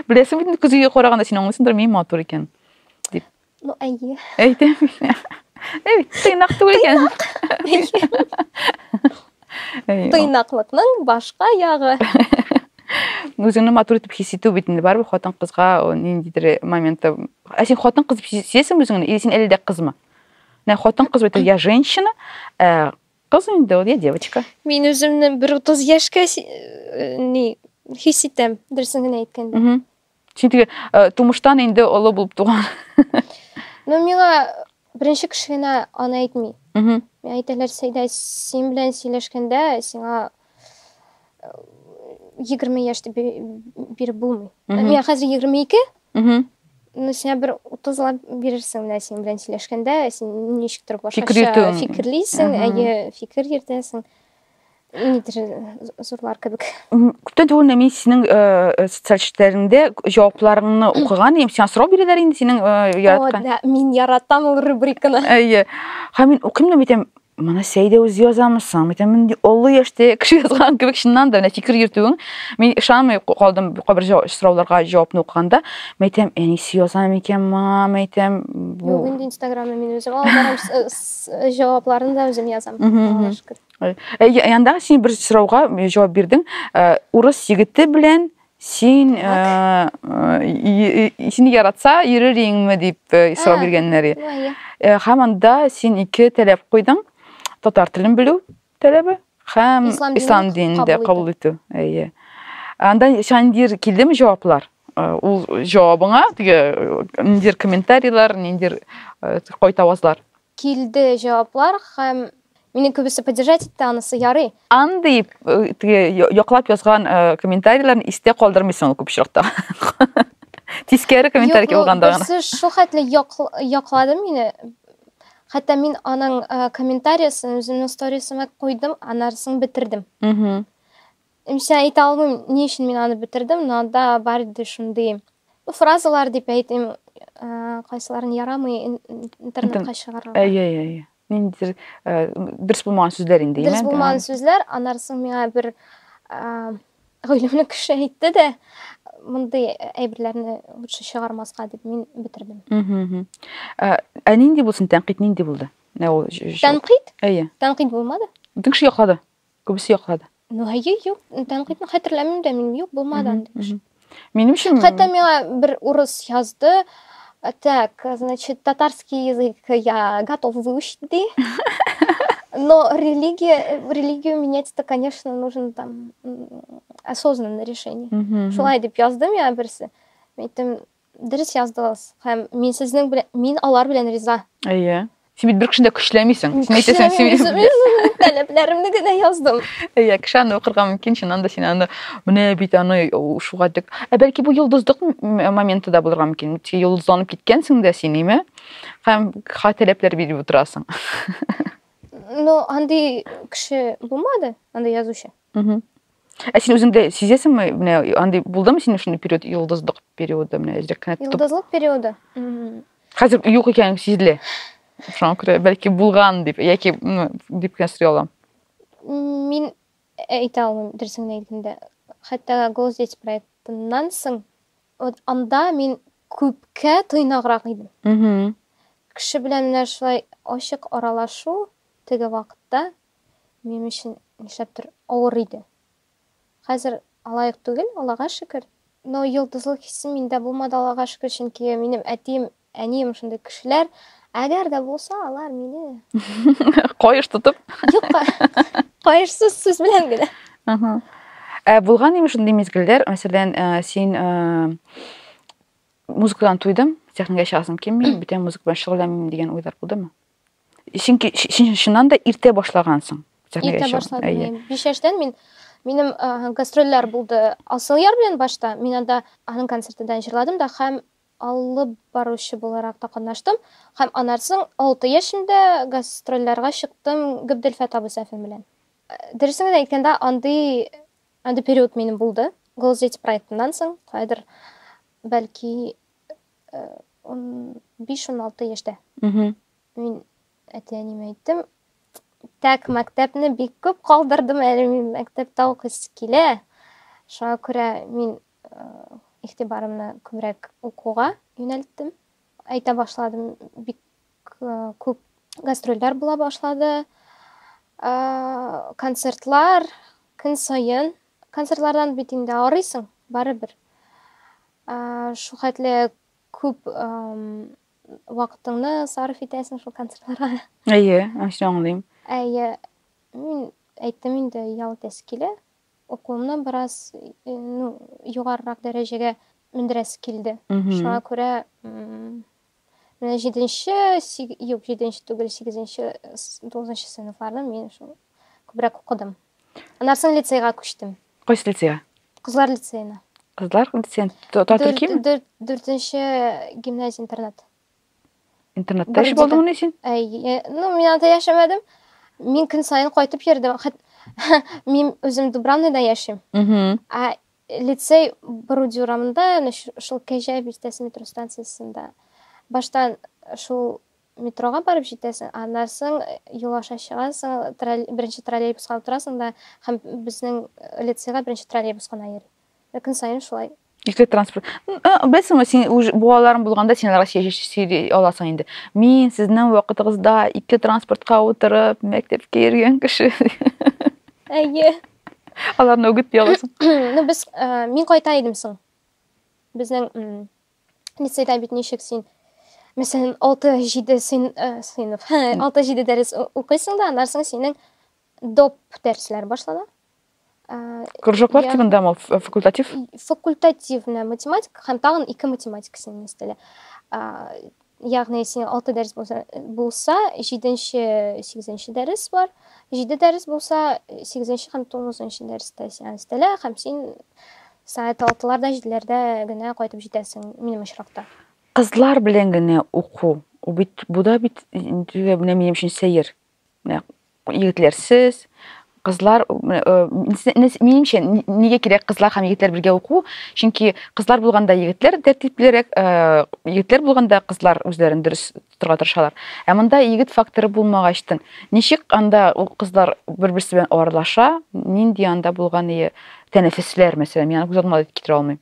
Беләсең бит, күзгә караганда син аңлыйсыңдыр, мин матур икән. Дип. Ну, әйе. Әйтәм. Әй, тыйнак түгел икән. Тыйнаклыкның башка ягы. Үзеңне матур итеп хис итү бит инде барыбер хатын кызга ниндидер моментта. Ә син хатын кыз дип сизәсеңме үзеңне? Или син әле дә кызмы? Менә хатын кыз бит я женщина, э, кыз инде ул, я девочка. Мин үземне бер 30 яшькә э, ни хис итәм, дөресен генә әйткәндә. Син теге э, тумыштан инде олы булып туган. Ну, миңа беренче кеше генә аны әйтми. Мгм. Миңа әйтәләр, Сәйдә, син белән сөйләшкәндә сиңа э, егерме яшь дип бе- биреп булмый. Мгм. Миңа хәзер егерме ике, Мгм. ну, сиңа бер утызлап бирерсең менә синең белән сөйләшкәндә, син ничектер башкача йөртүең. фикерлисең, Ага. әйе, фикер йөртәсең. зурлар кебек күптән түгел менә мин синең социаль челтәреңдә җавапларыңны укыган идем сиңа сорау бирәләр инде синең яраткан да мин яратам ул рубриканы әйе һәм мин укыйм да әйтәм моны сәйдә үзе язамы соң әйтәм мин олы яшьтә кеше язган кебек чыннан да менә фикер йөртүең мин ышанмый калдым кайбер сорауларга җавапны укыганда әйтәм әнисе яза микән моңа әйтәм бу инстаграмны мин үзем алып барам җавапларын да үзем язам аллага шөкер янда син бер сорауга җавап бирдең урыс егете белән син сине яратса йөрер идеңме дип сорау биргәннәр һәм анда син ике таләп куйдың татар телен белү Таләбе һәм ислам, ислам динен дә кабул итү. Әйе. Анда шандир килдеме җаваплар? Э, ул җавабыңа теге э, ниндидер комментарийлар, ниндидер э, кайтавазлар? Килде җаваплар һәм мине күбесе поддержать итте анысы ярый. Андый теге яклап язган комментарийларны истә калдырмыйсың күп очракта. Тискәре комментарий булганда гына. Юк, шул хәтле яклады мине. Хәтта мин аның комментариясен үземнең сторисыма куйдым, анарысын бетердем. Имчә әйтә алмыйм, ни өчен мин аны бетердем, но анда бар иде шундый ну, фразалар дип әйтим, кайсыларын ярамый интернетка чыгарырга. Әйе, әйе. Ниндидер дөрес булмаган сүзләр инде, димәк. Дөрес булмаган сүзләр, анарысын миңа бер Гөлемне кеше әйтте дә, мондый әйберләрне лучше чыгармаска дип мин бетердем. Ә, ә нинди булсын тәнкыйть нинди булды? Ә ул Тәнкыйть? Әйе. Тәнкыйть булмады. Бөтен кеше яклады. Күбесе яклады. Ну, әйе, юк, тәнкыйтьне хәтерләмим дә мин, юк, булмады андый кеше. Минем өчен Хәтта миңа бер урыс язды. Так, значит, татарский язык я готов выучить, ди. Но религия, религию менять это, конечно, нужно там осознанное решение. Шулай дип язды миңа берсе. Әйттем, дөрес яздыгыз һәм мин сезнең белән мин алар белән риза әйе Син бит бер кешене дә көчләмисең. Син әйтәсең, син мин таләпләремне генә яздым. Әйе, кеше аны укырга мөмкин, чыннан да син аны менә бит аны шуга дип. Ә бәлки бу йолдыздык моменты да булырга мөмкин. Ти йолдызланып киткәнсең дә син, име? Һәм ха таләпләр биреп утырасың. Ну, андый кеше булмады, андый язучы. Угу. Ә син үзеңдә сизәсеңме, менә андый булдымы синең шундый период, йолдызлык периоды, менә әзрәк кенә тотып? Йолдызлык периоды. Хәзер юк икән сизелә. Шуңа күрә бәлки булган дип, яки дип кенә сорый алам. Мин әйтә алмыйм, дөресен әйткәндә. Хәтта Голос дети проектыннан соң, вот анда мин күпкә тыйнаграк идем. Угу. Кеше белән менә шулай ачык аралашу теге вакытта минем өчен нишләптер авыр иде. Хәзер алаек түгел, Аллага шөкер. Но йолдызлык хисе миндә булмады, Аллага шөкер, чөнки минем әтием, әнием шундый кешеләр. Әгәр дә булса, алар мине каеш тотып. Юк, каешсыз сүз белән генә. Ага. Ә булган име шундый мизгелләр, мәсәлән, э, син э, музыкадан туйдым, техникага чыгасым килми, бүтән музыка белән шөгыльләнмим дигән уйлар булдымы? Чөнки чыннан да иртә башлагансың. Иртә башладым. Әйе. Биш яшьтән мин минем ә, гастрольләр булды. Асыл яр белән башта мин анда аның концертында җырладым да һәм алып баручы буларак та катнаштым. Һәм анарсың 6 яшендә гастрольләргә чыктым Габделфәт абый Сәфин белән. Э, дөресен генә әйткәндә, андый андый период минем булды. Голос дети проектыннан соң, кайдыр бәлки 15-16 э, яшьтә. Мин әти-әниемә әйттем, так, мәктәпне бик күп калдырдым әле мин мәктәптә укыйсы килә. Шуңа күрә мин э, игътибарымны күбрәк укуга юнәлттем. Әйтә башладым, бик э, күп гастрольләр була башлады. Э, концертлар көн саен. Концертлардан бит инде арыйсың, барыбер. Шул хәтле күп вакытыңны сарыф итәсең шул концертларга. Әйе, аңчы аңлыйм. Әйе, мин әйттем инде, ял итәсе килә. Укуымны бераз ну, югарырак дәрәҗәгә мендерәсе килде. Шуңа күрә Менә җиденче, юк, җиденче түгел, сигезенче, тугызынчы сыйныфларны мин шул күбрәк укыдым. Аннан соң лицейга күчтем. Кайсы лицейга? Кызлар лицеена. Кызлар лицеен татар ким? Дүртенче гимназия интернат. Интернатта эш булдың ни син? Э, ну, мин анда яшәмәдем. Мин көн сайын кайтып йөрдем. Мин үзем Дубравныйда яшим. Ә Лицей Боруди урамында, әнә шул Кәҗә бистәсе метро станциясендә. Баштан шул метрога барып җитәсең, аннан соң юл аша чыгасың, тролль... беренче троллейбуска утырасың да һәм безнең лицейга беренче троллейбус кына йөри. Ә көн саен шулай. Ике транспорт. Белсеңме, син үз буаларың булганда син аларга сөйли аласың инде. Мин сезнең вакытыгызда ике транспортка утырып мәктәпкә йөргән кеше. Әйе. аларны үгетли аласың ну без мин кайта идем соң безнең лицейда бит ничек син мәсәлән алты җиде сыйныф алты җиде дәрес укыйсың да аннан соң синең доп дәресләр башлана кружоклар тибындамы факультатив факультативная математика һәм тагын ике математика синең өстәлә Ягъни синең алты дәрес булса, булса җиденче, сигезенче дәрес бар. Җиде дәрес булса, сигезенче һәм тугызынчы дәрестә сиңа өстәлә һәм син сәгать алтыларда, җиделәрдә генә кайтып җитәсең, минем очракта. Кызлар белән генә уку, бу бит, бу да бит инде менә минем өчен сәер. менә егетләрсез кызлар минемчә нигә кирәк кызлар һәм егетләр бергә уку чөнки кызлар булганда егетләр тәртиплерәк егетләр булганда кызлар үзләрен дөрес тотарга тырышалар ә монда егет факторы булмагачтын ничек анда ул кызлар бер берсе белән аралаша нинди анда булган ие тәнәфесләр мәсәлән мин аны күз алдыма китерә алмыйм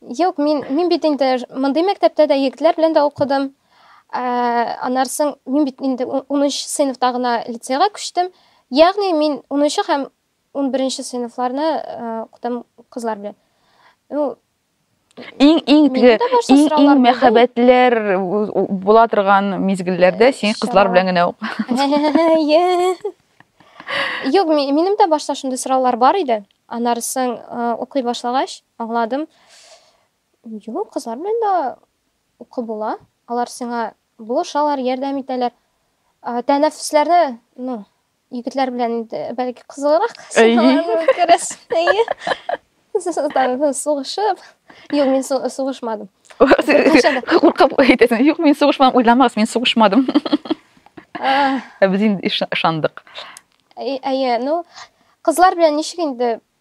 Юк, мин, мин бит инде мондый мәктәптә дә егетләр белән дә укыдым. Ә, аннары соң мин бит инде 10 сыйныфта гына лицейга күчтем. Ягъни мин 10 һәм 11 сыйныфларны укытам кызлар белән. Ну, Иң иң теге иң иң мәхәббәтләр була торган мизгелләрдә син кызлар белән генә ук. Юк, минем дә башта шундый сораулар бар иде. Аннары соң укый башлагач, Аңладым. Юк, кызлар белән дә укып була. Алар сиңа булышалар, ярдәм итәләр. Тәнәфесләрне, ну, егетләр белән инде бәлки кызыграк күрәсең. Там сугышып. Юк, мин сугышмадым. Куркып әйтәсең. Юк, мин сугышмадым. Уйламагыз, мин сугышмадым. Ә без инде ышандык. Әйе, ну, кызлар белән ничек инде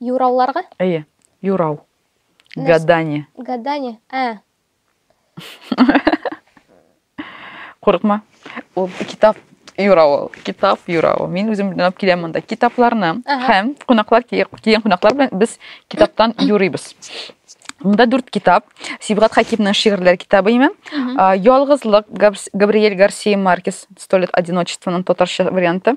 Юрауларга? Әйе, юрау. Гадание. Гадание, ә. Курыкма. Ул китап юравы, китап юравы. Мин үзем белән алып киләм монда китапларны һәм кунаклар килгән кунаклар белән без китаптан юрыйбыз. Мында дүрт китап. Сибгат Хакимның шигырьләр китабы име? Ялгызлык, Габриэль Гарсия Маркес, Сто лет одиночествоның татарча варианты.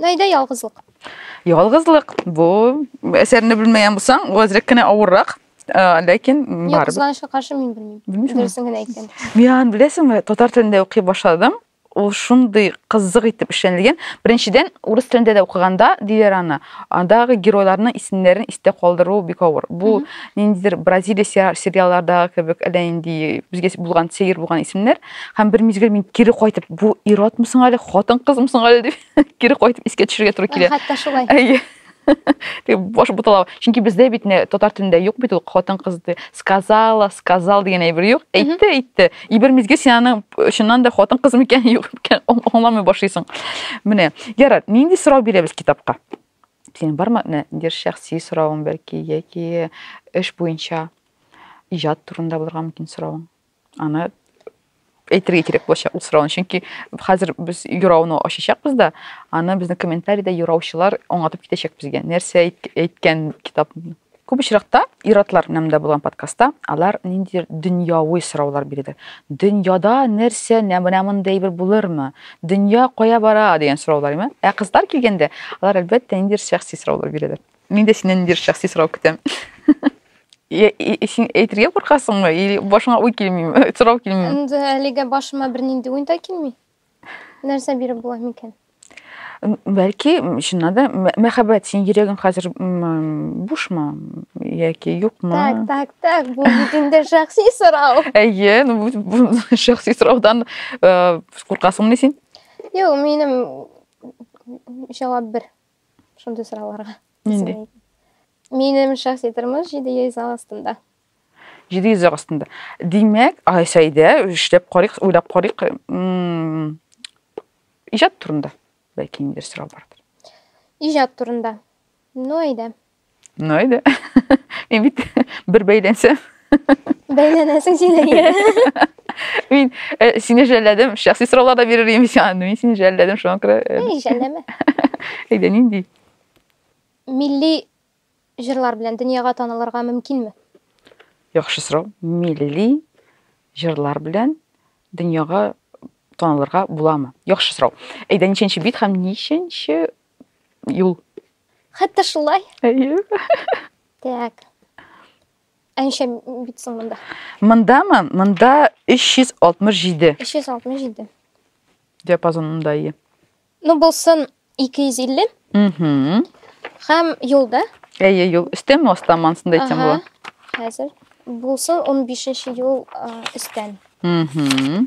Найда ялгызлык. Ялгызлык. Бу әсәрне белмәгән булсаң, бу әзрәк кенә авыррак. Э, ләкин барыбер. Юк, кызганычка каршы мин белмим. Дөресен генә әйтәм. Мин беләсеңме, татар телендә укый башладым. Ул шундый кызык итеп эшләнелгән. Беренчедән, урыс телендә дә укыганда диләр аны. Андагы геройларның исемнәрен истә калдыру бик авыр. Бу ниндидер Бразилия сериаллардагы кебек әллә инде безгә булган сәер булган исемнәр. Һәм бер мизгел мин кире кайтып, бу иратмы соң әле, хатын-кызмы соң әле дип, кире кайтып искә төшергә туры килә. Хәтта шулай. Әйе. Тик баш буталау. Чөнки бездә бит не татар телендә юк бит ул хатын-кыз ди. Сказала, сказал дигән әйбер юк. Әйтте, әйтте. И бер мизгел син аны чыннан да хатын-кыз микән, юк микән, аңламый башлыйсың. Менә, ярар, нинди сорау бирәбез китапка? Синең бармы? Менә, дир шәхси соравың бәлки, яки эш буенча, иҗат турында булырга мөмкин соравың. аны әйтергә кирәк булачак ул сорауны чөнки хәзер без юрауны ачачакбыз да аны безнең комментарида юраучылар аңлатып китәчәк безгә нәрсә әйткән китап күп очракта ир-атлар нәмдә булган подкастта алар ниндидер дөньяви сораулар бирде дөньяда нәрсә менә мондый әйбер булырмы дөнья кая бара дигән сораулар ә кызлар килгәндә алар әлбәттә ниндидер шәхси сораулар бирәләр Мин дә синнән ниндидер шәхси сорау көтәм. Син әйтергә куркасыңмы или башыңа уй килмиме, сорау килмиме? Инде әлегә башыма бернинди уй да килми. Нәрсә биреп була микән? Бәлки, чыннан да мәхәббәт, синең йөрәгең хәзер бушмы яки юкмы? Так, так, так, бу бит инде шәхси сорау. Әйе, ну бу шәхси сораудан э, куркасыңмы син? Юк, минем җавап бер. шундый сорауларга. Нинди? Минем шәхси тормыш 700 ал астында. 700 ал астында. Димәк, Айсәйдә эшләп карыйк, уйлап карыйк. Иҗат турында бәлки ниндер сорау бардыр. Иҗат турында. Ну, әйдә. Ну, әйдә. Мин бит бер бәйләнсәм. Бәйләнәсең син әйе. Мин э, сине жәлләдем, шәхси сораулар да бирер идем сиңа. Мин сине жәлләдем, шуңа күрә. Э, Эй, жәлләмә. Әйдә, нинди? Милли җырлар белән дөньяга танылырга мөмкинме? Яхшы сорау. Милли җырлар белән дөньяга танылырга буламы? Яхшы сорау. Әйдә, ничәнче бит һәм ничәнче юл. Хәтта шулай. Әйе. Так. Әншә бит соң монда. Мондамы? Монда 367. 367. Диапазонында ие. Ну булсын 250. Угу. Хәм юлда. Әйе, юл. Өстәме астан мансында әйтсәм була. Хәзер булсын 15 нче юл өстән. Угу.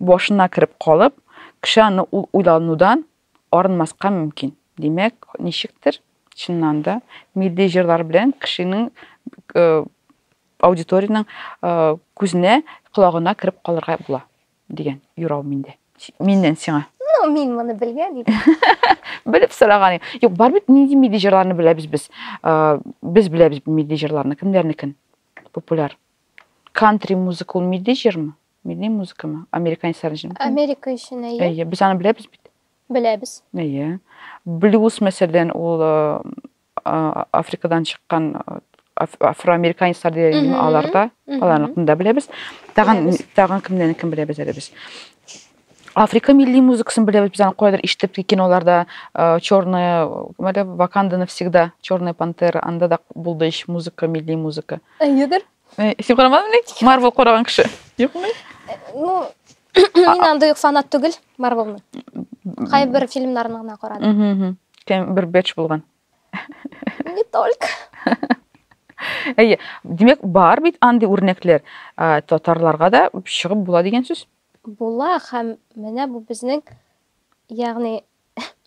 Башына кереп калып, кеше аны ул уйланудан арынмаска мөмкин. Димәк, ничектер, чыннан да, милли җырлар белән кешенең аудиториянең күзенә, колагына кереп калырга була, дигән юрау миндә. Миннән сиңа. Ну, мин моны белгән идем. Белеп сораган идем. Юк, бар бит нинди милли җырларны беләбез без. Без беләбез милли җырларны. Кемнәрнекен? Популяр. Кантри музыка ул милли җырмы? Милли музыкамы? Американец сарынҗын. Америка өчен әйе. Әйе, без аны беләбез бит. Беләбез. Әйе. Блюз мәсәлән, ул Африкадан чыккан афроамериканецлар дигән инде аларда, аларны да беләбез. Тагын тагын кемнәрне кем беләбез әле без? Африка милли музыкасын беләбез, без аны кайдыр ишетеп киноларда черная, мәле Ваканда навсегда, черная пантера, анда да булды ич музыка, милли музыка. Әйедер. Э, син карамадың ни? Марвел караган кеше. Юкмы? Э, ну, мин андый фанат түгел Марвелны. Кайбер фильмнарын гына карадым. Кем бер бэч булган. Не только. Әйе, демәк бар бит андый үрнәкләр. Э, татарларга да чыгып була дигән сүз. Була һәм менә бу безнең ягъни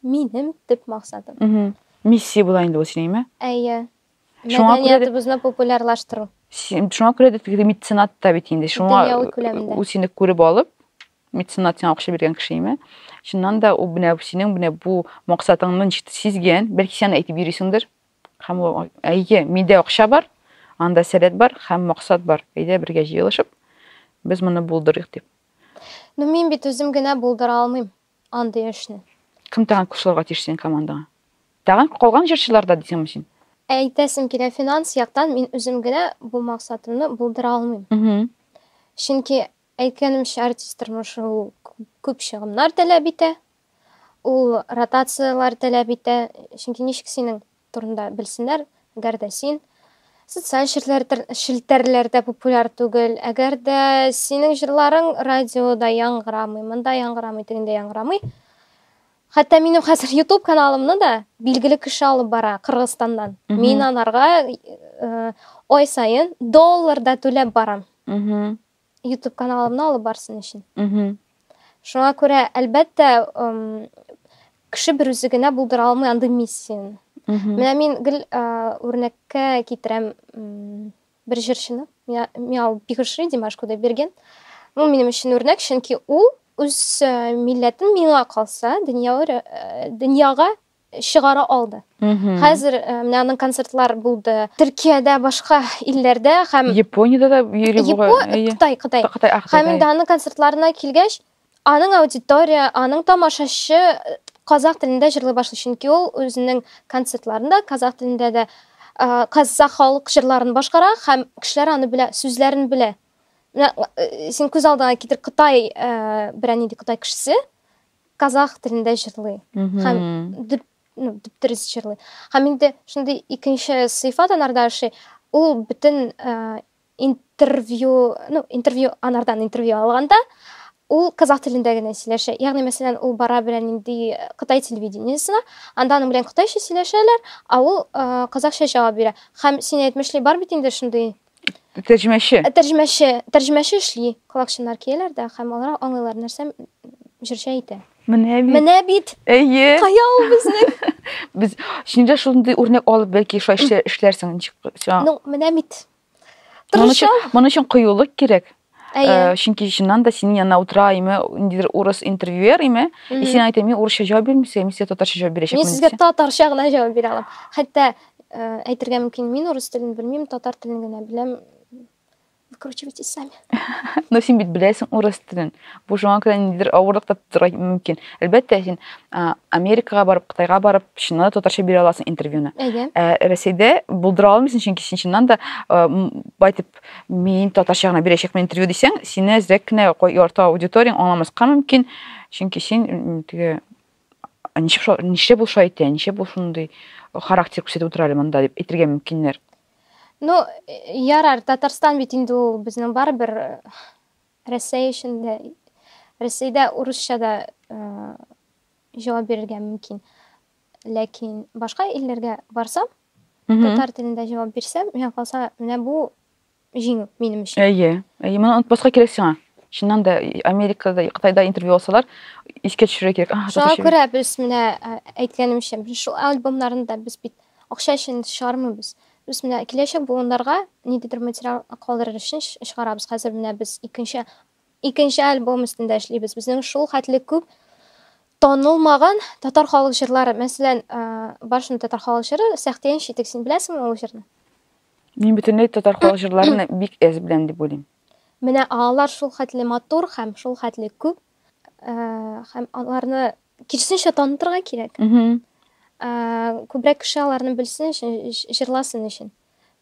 минем төп максатым. Миссия була инде ул синең, әйе? Әйе. Шуңа күрә дә безне популярлаштыру. Шуңа күрә дә теге меценат та бит инде. Шуңа ул сине күреп алып, меценат сиңа акча биргән кеше име? Чыннан да ул менә синең менә бу максатыңны ничек сизгән, бәлки сиңа әйтеп йөрисеңдер. Һәм ул әйе, миндә акча бар, анда сәләт бар һәм максат бар. Әйдә бергә җыелышып, без моны булдырыйк дип. Ну мин бит үзем генә булдыра алмыйм. Андый эшне. Кем тагын күп сорарга тиеш синең командаңа? Тагын калган җырчылар да дисеңме син? Әйтәсем килә, финанс яктан мин үзем генә бу максатымны булдыра алмыйм. Чөнки, әйткәнемчә, артист тормышы ул күп чыгымнар таләп итә, ул ротацияләр таләп итә. Чөнки ничек синең турында белсеннәр, әгәр дә син социаль челтәрләрдә популяр түгел, әгәр дә синең җырларың радиода яңгырамый, монда яңгырамый, тегендә яңгырамый. Хәтта минем хәзер YouTube каналымны да билгеле кеше алып бара Кыргызстаннан. Мин анарга ай сайын долларда түләп барам. YouTube каналымны алып барсын өчен. Шуңа күрә, әлбәттә, кеше бер үзе генә булдыра алмый андый миссияне. Менә мин гел үрнәккә китерәм бер җырчыны. Миал Бигышри Димаш Кудайберген. Ул минем өчен үрнәк, чөнки ул үз милләтен миңа калса, дөньяга чыгара алды. Хәзер э, менә аның концертлар булды. Төркиядә, башка илләрдә һәм Япониядә дә йөри буга. Кытай, Кытай. Кытай, Һәм инде аның концертларына килгәч, аның аудитория, аның тамашачы э, казах телендә җырлый башлый, чөнки ул үзенең концертларында казах телендә дә э, казах халык җырларын башкара һәм кешеләр аны белә, сүзләрен белә. Менә син күз алдыңа китер Кытай берәр нинди Кытай кешесе казах телендә җырлый һәм дип ну, дөрес җырлый һәм инде шундый икенче сыйфат анарда ашый ул бөтен э, интервью ну интервью анардан интервью алганда ул казах телендә генә сөйләшә ягъни мәсәлән ул бара белән нинди э, кытай телевидениесына анда аның белән кытайча сөйләшәләр а ул э, казахча җавап бирә һәм син әйтмешли бар бит инде шундый Тәрҗемәче. Э, тәрҗемәче, тәрҗемәче эшли. Колакчыннар кияләр дә һәм алар аңлыйлар нәрсә җырчы әйтә. Менә бит. Менә бит. Әйе. Кая ул безнең? Без шунда шундый үрнәк алып бәлки шулай эшләрсең ничек. Ну, менә бит. Моның өчен, моның өчен кыюлык кирәк. Әйе. Э, чөнки чыннан да синең янына утыра име, ниндидер урыс интервьюер име, и син әйтә, мин урысча җавап бирмисең, мин сезгә татарча җавап бирәчәкмен. Мин сезгә татарча гына җавап бирә алам. Хәтта э, әйтергә мөмкин, мин урыс телен белмим, татар телен генә беләм. Выкручивайте сами. Но син бит беләсең урыс телен. Бу шуңа күрә ниндидер авырлык та тудырырга мөмкин. Әлбәттә, син Америкага барып, Кытайга барып, чыннан да татарча бирә аласың интервьюны. Әйе. Ә Рәсәйдә булдыра алмыйсың, чөнки син чыннан да байтып Мин татарча гына бирәчәкмен интервью дисәң, сине әзрәк кенә ярты аудиторияң аңламаска мөмкин, чөнки син теге ничек шулай, нишләп ул шулай әйтә, нишләп ул шундый характер күрсәтеп утыра әле монда дип әйтергә мөмкиннәр. Ну, ярар, Татарстан бит инде ул безнең барыбер э, Рәсәй өчен дә, Рәсәйдә урысча да э, җавап бирергә мөмкин. Ләкин башка илләргә барсам, татар телендә җавап бирсәм, миңа калса, менә бу җиңү минем өчен. Әйе. Әйе, моны онытпаска кирәк сиңа. Чыннан да Америкада, Кытайда интервью алсалар, искә төшерә кирәк. Ага, Шуңа күрә без менә әйткәнемчә, без шул альбомнарны да без бит акча өчен чыгармыйбыз. Без менә киләчәк буыннарга ниндидер материал калдырыр өчен чыгарабыз. Хәзер менә без икенче Икенче альбом өстендә эшлибез. Безнең шул хәтле күп танылмаган татар халык җырлары. Мәсәлән, баршын татар халык җыры Сәхтиян читек. Син беләсеңме ул җырны? Мин бөтенләй татар халык җырларын бик әз беләм дип уйлыйм. Менә алар шул хәтле матур һәм шул хәтле күп. Һәм аларны кирсенчә танытырга кирәк. Күбрәк кеше аларны белсен өчен, җырласын өчен.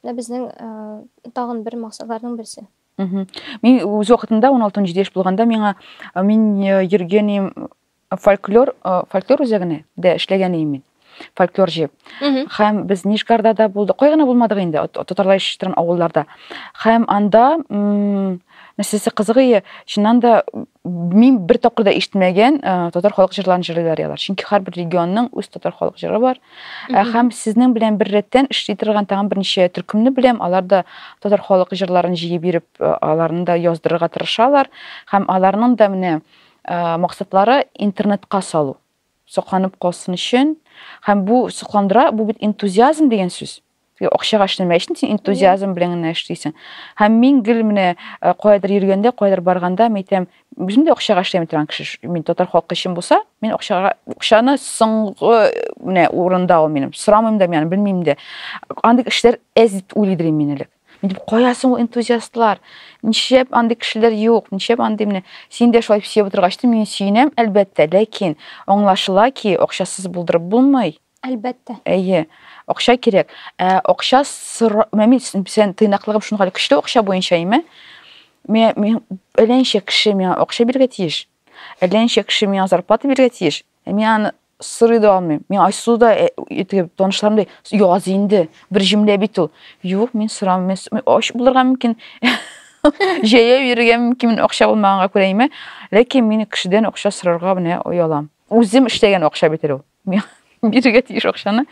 Менә безнең тагын бер максатларның берсе. мин үз вакытында он алты он җиде яшь булганда миңа мин йөргән идем фольклор фольклор үзәгенә дә эшләгән идем мин фольклор җыеп һәм без нижгарда да булдык кай гына булмадык инде татарлар яшәшә торган авылларда һәм анда нәрсәсе кызыгые чыннан да мин бер тапкыр да ишетмәгән татар халык җырларын җырлыйлар алар чөнки һәрбер регионның үз татар халык җыры бар Ә һәм сезнең белән бер рәттән эшли торган тагын берничә төркемне беләм. Алар да татар халык җырларын җыеп биреп, э, аларны да яздырырга тырышалар һәм аларның да менә э, максатлары интернетка салу. Сокланып калсын өчен. Һәм бу сокландыра, бу бит энтузиазм дигән сүз. акчага эшләмәй өчен син энтузиазм белән генә эшлисең һәм мин гел менә э, каядыр йөргәндә каядыр барганда мен әйтәм үзем дә акчага эшләми торган кеше мин татар халкы өчен булса мин акчага акчаны соңгы менә урында ул минем сорамыйм да мин белмим дә андый кешеләр әз дип уйлыйдыр мин элек мин кая соң ул энтузиастлар ничәп андый кешеләр юк ничәп андый менә син дә шулай сөеп утыргач мин сөенәм әлбәттә ләкин аңлашыла ки акчасыз булдырып булмый Әлбәттә. Әйе, акча кирәк. Ә акча сор... Мәми, сен тыйнаклыгым шуны хәле көчле акча буенча име? Мә, мин әләнчә кеше миңа акча биргә тиеш. Әләнчә кеше миңа зарплата биргә тиеш. Ә мин аны сорый да алмыйм. Мин Айсу да итеп э, танышларым да яз инде. Бер җөмлә бит ул. Юк, мин сорамыйм. Мин ач булырга мөмкин. Җәя йөрергә мөмкин акча булмаганга күрә име? Ләкин мин кешедән акча сорарга менә оялам. Үзем эшләгән акча бит ул. бирергә тиеш акчаны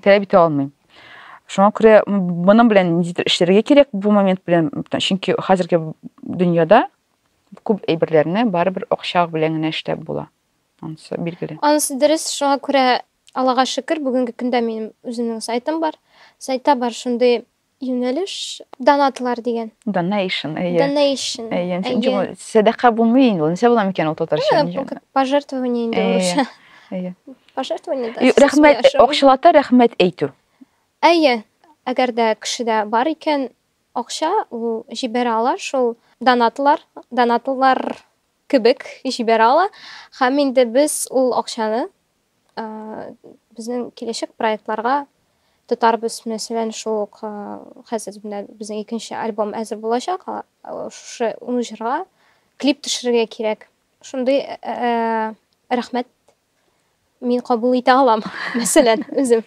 таләп итә алмыйм шуңа күрә моның белән ниндидер эшләргә кирәк бу момент белән чөнки хәзерге дөньяда күп әйберләрне барыбер акча белән генә эшләп була анысы билгеле анысы дөрес шуңа күрә аллага шөкер бүгенге көндә минем үземнең сайтым бар сайтта бар шундый Юнәлеш донатлар дигән. Donation, әйе. Donation. Әйе, чөнки бу сәдака булмый инде. Нәрсә була микән ул татарча? Бу пожертвование инде урысча. Әйе. Пожертвование да. Рәхмәт, акчалата рәхмәт әйтү. Әйе. Әгәр дә кешедә бар икән акча, ул җибәрә ала шул донатлар, донатлар кебек җибәрә ала. Һәм инде без ул акчаны Безнең киләчәк проектларга тотарбыз. Мәсәлән, шул ук хәзер менә безнең икенче альбом әзер булачак. Шушы ун җырга клип төшерергә кирәк. Шундый рәхмәт мин кабул итә алам, мәсәлән, үзем.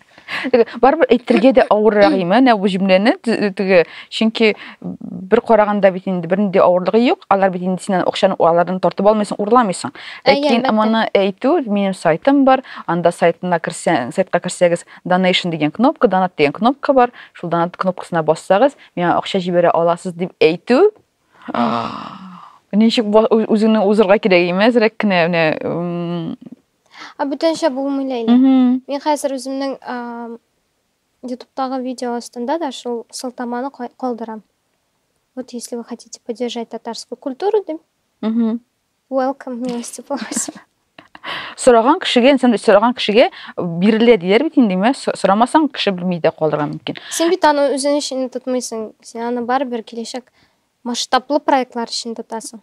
барыбер әйтергә дә авыррак име әнә бу җөмләне теге чөнки бер караганда бит инде бернинди авырлыгы юк алар бит инде синнән акчаны алардан тартып алмыйсың урламыйсың ләкин моны әйтү минем сайтым бар анда сайтына керсәң сайтка керсәгез donation дигән кнопка донат дигән кнопка бар шул донат кнопкасына бассагыз миңа акча җибәрә аласыз дип әйтү ничек үзеңне узырга кирәк име әзрәк кенә менә Ә бүтәнчә булмый Ләйлә. Мин хәзер үземнең ютубтагы видео астында да шул сылтаманы калдырам. Вот если вы хотите поддержать татарскую культуру, дим. Welcome, милости просим. сораган кешегә инсан сораган кешегә бирелә диләр бит инде мә сорамасаң кеше белми дә калырга мөмкин син бит аны үзең өчен тотмыйсың син аны барыбер киләчәк масштаблы проектлар өчен тотасың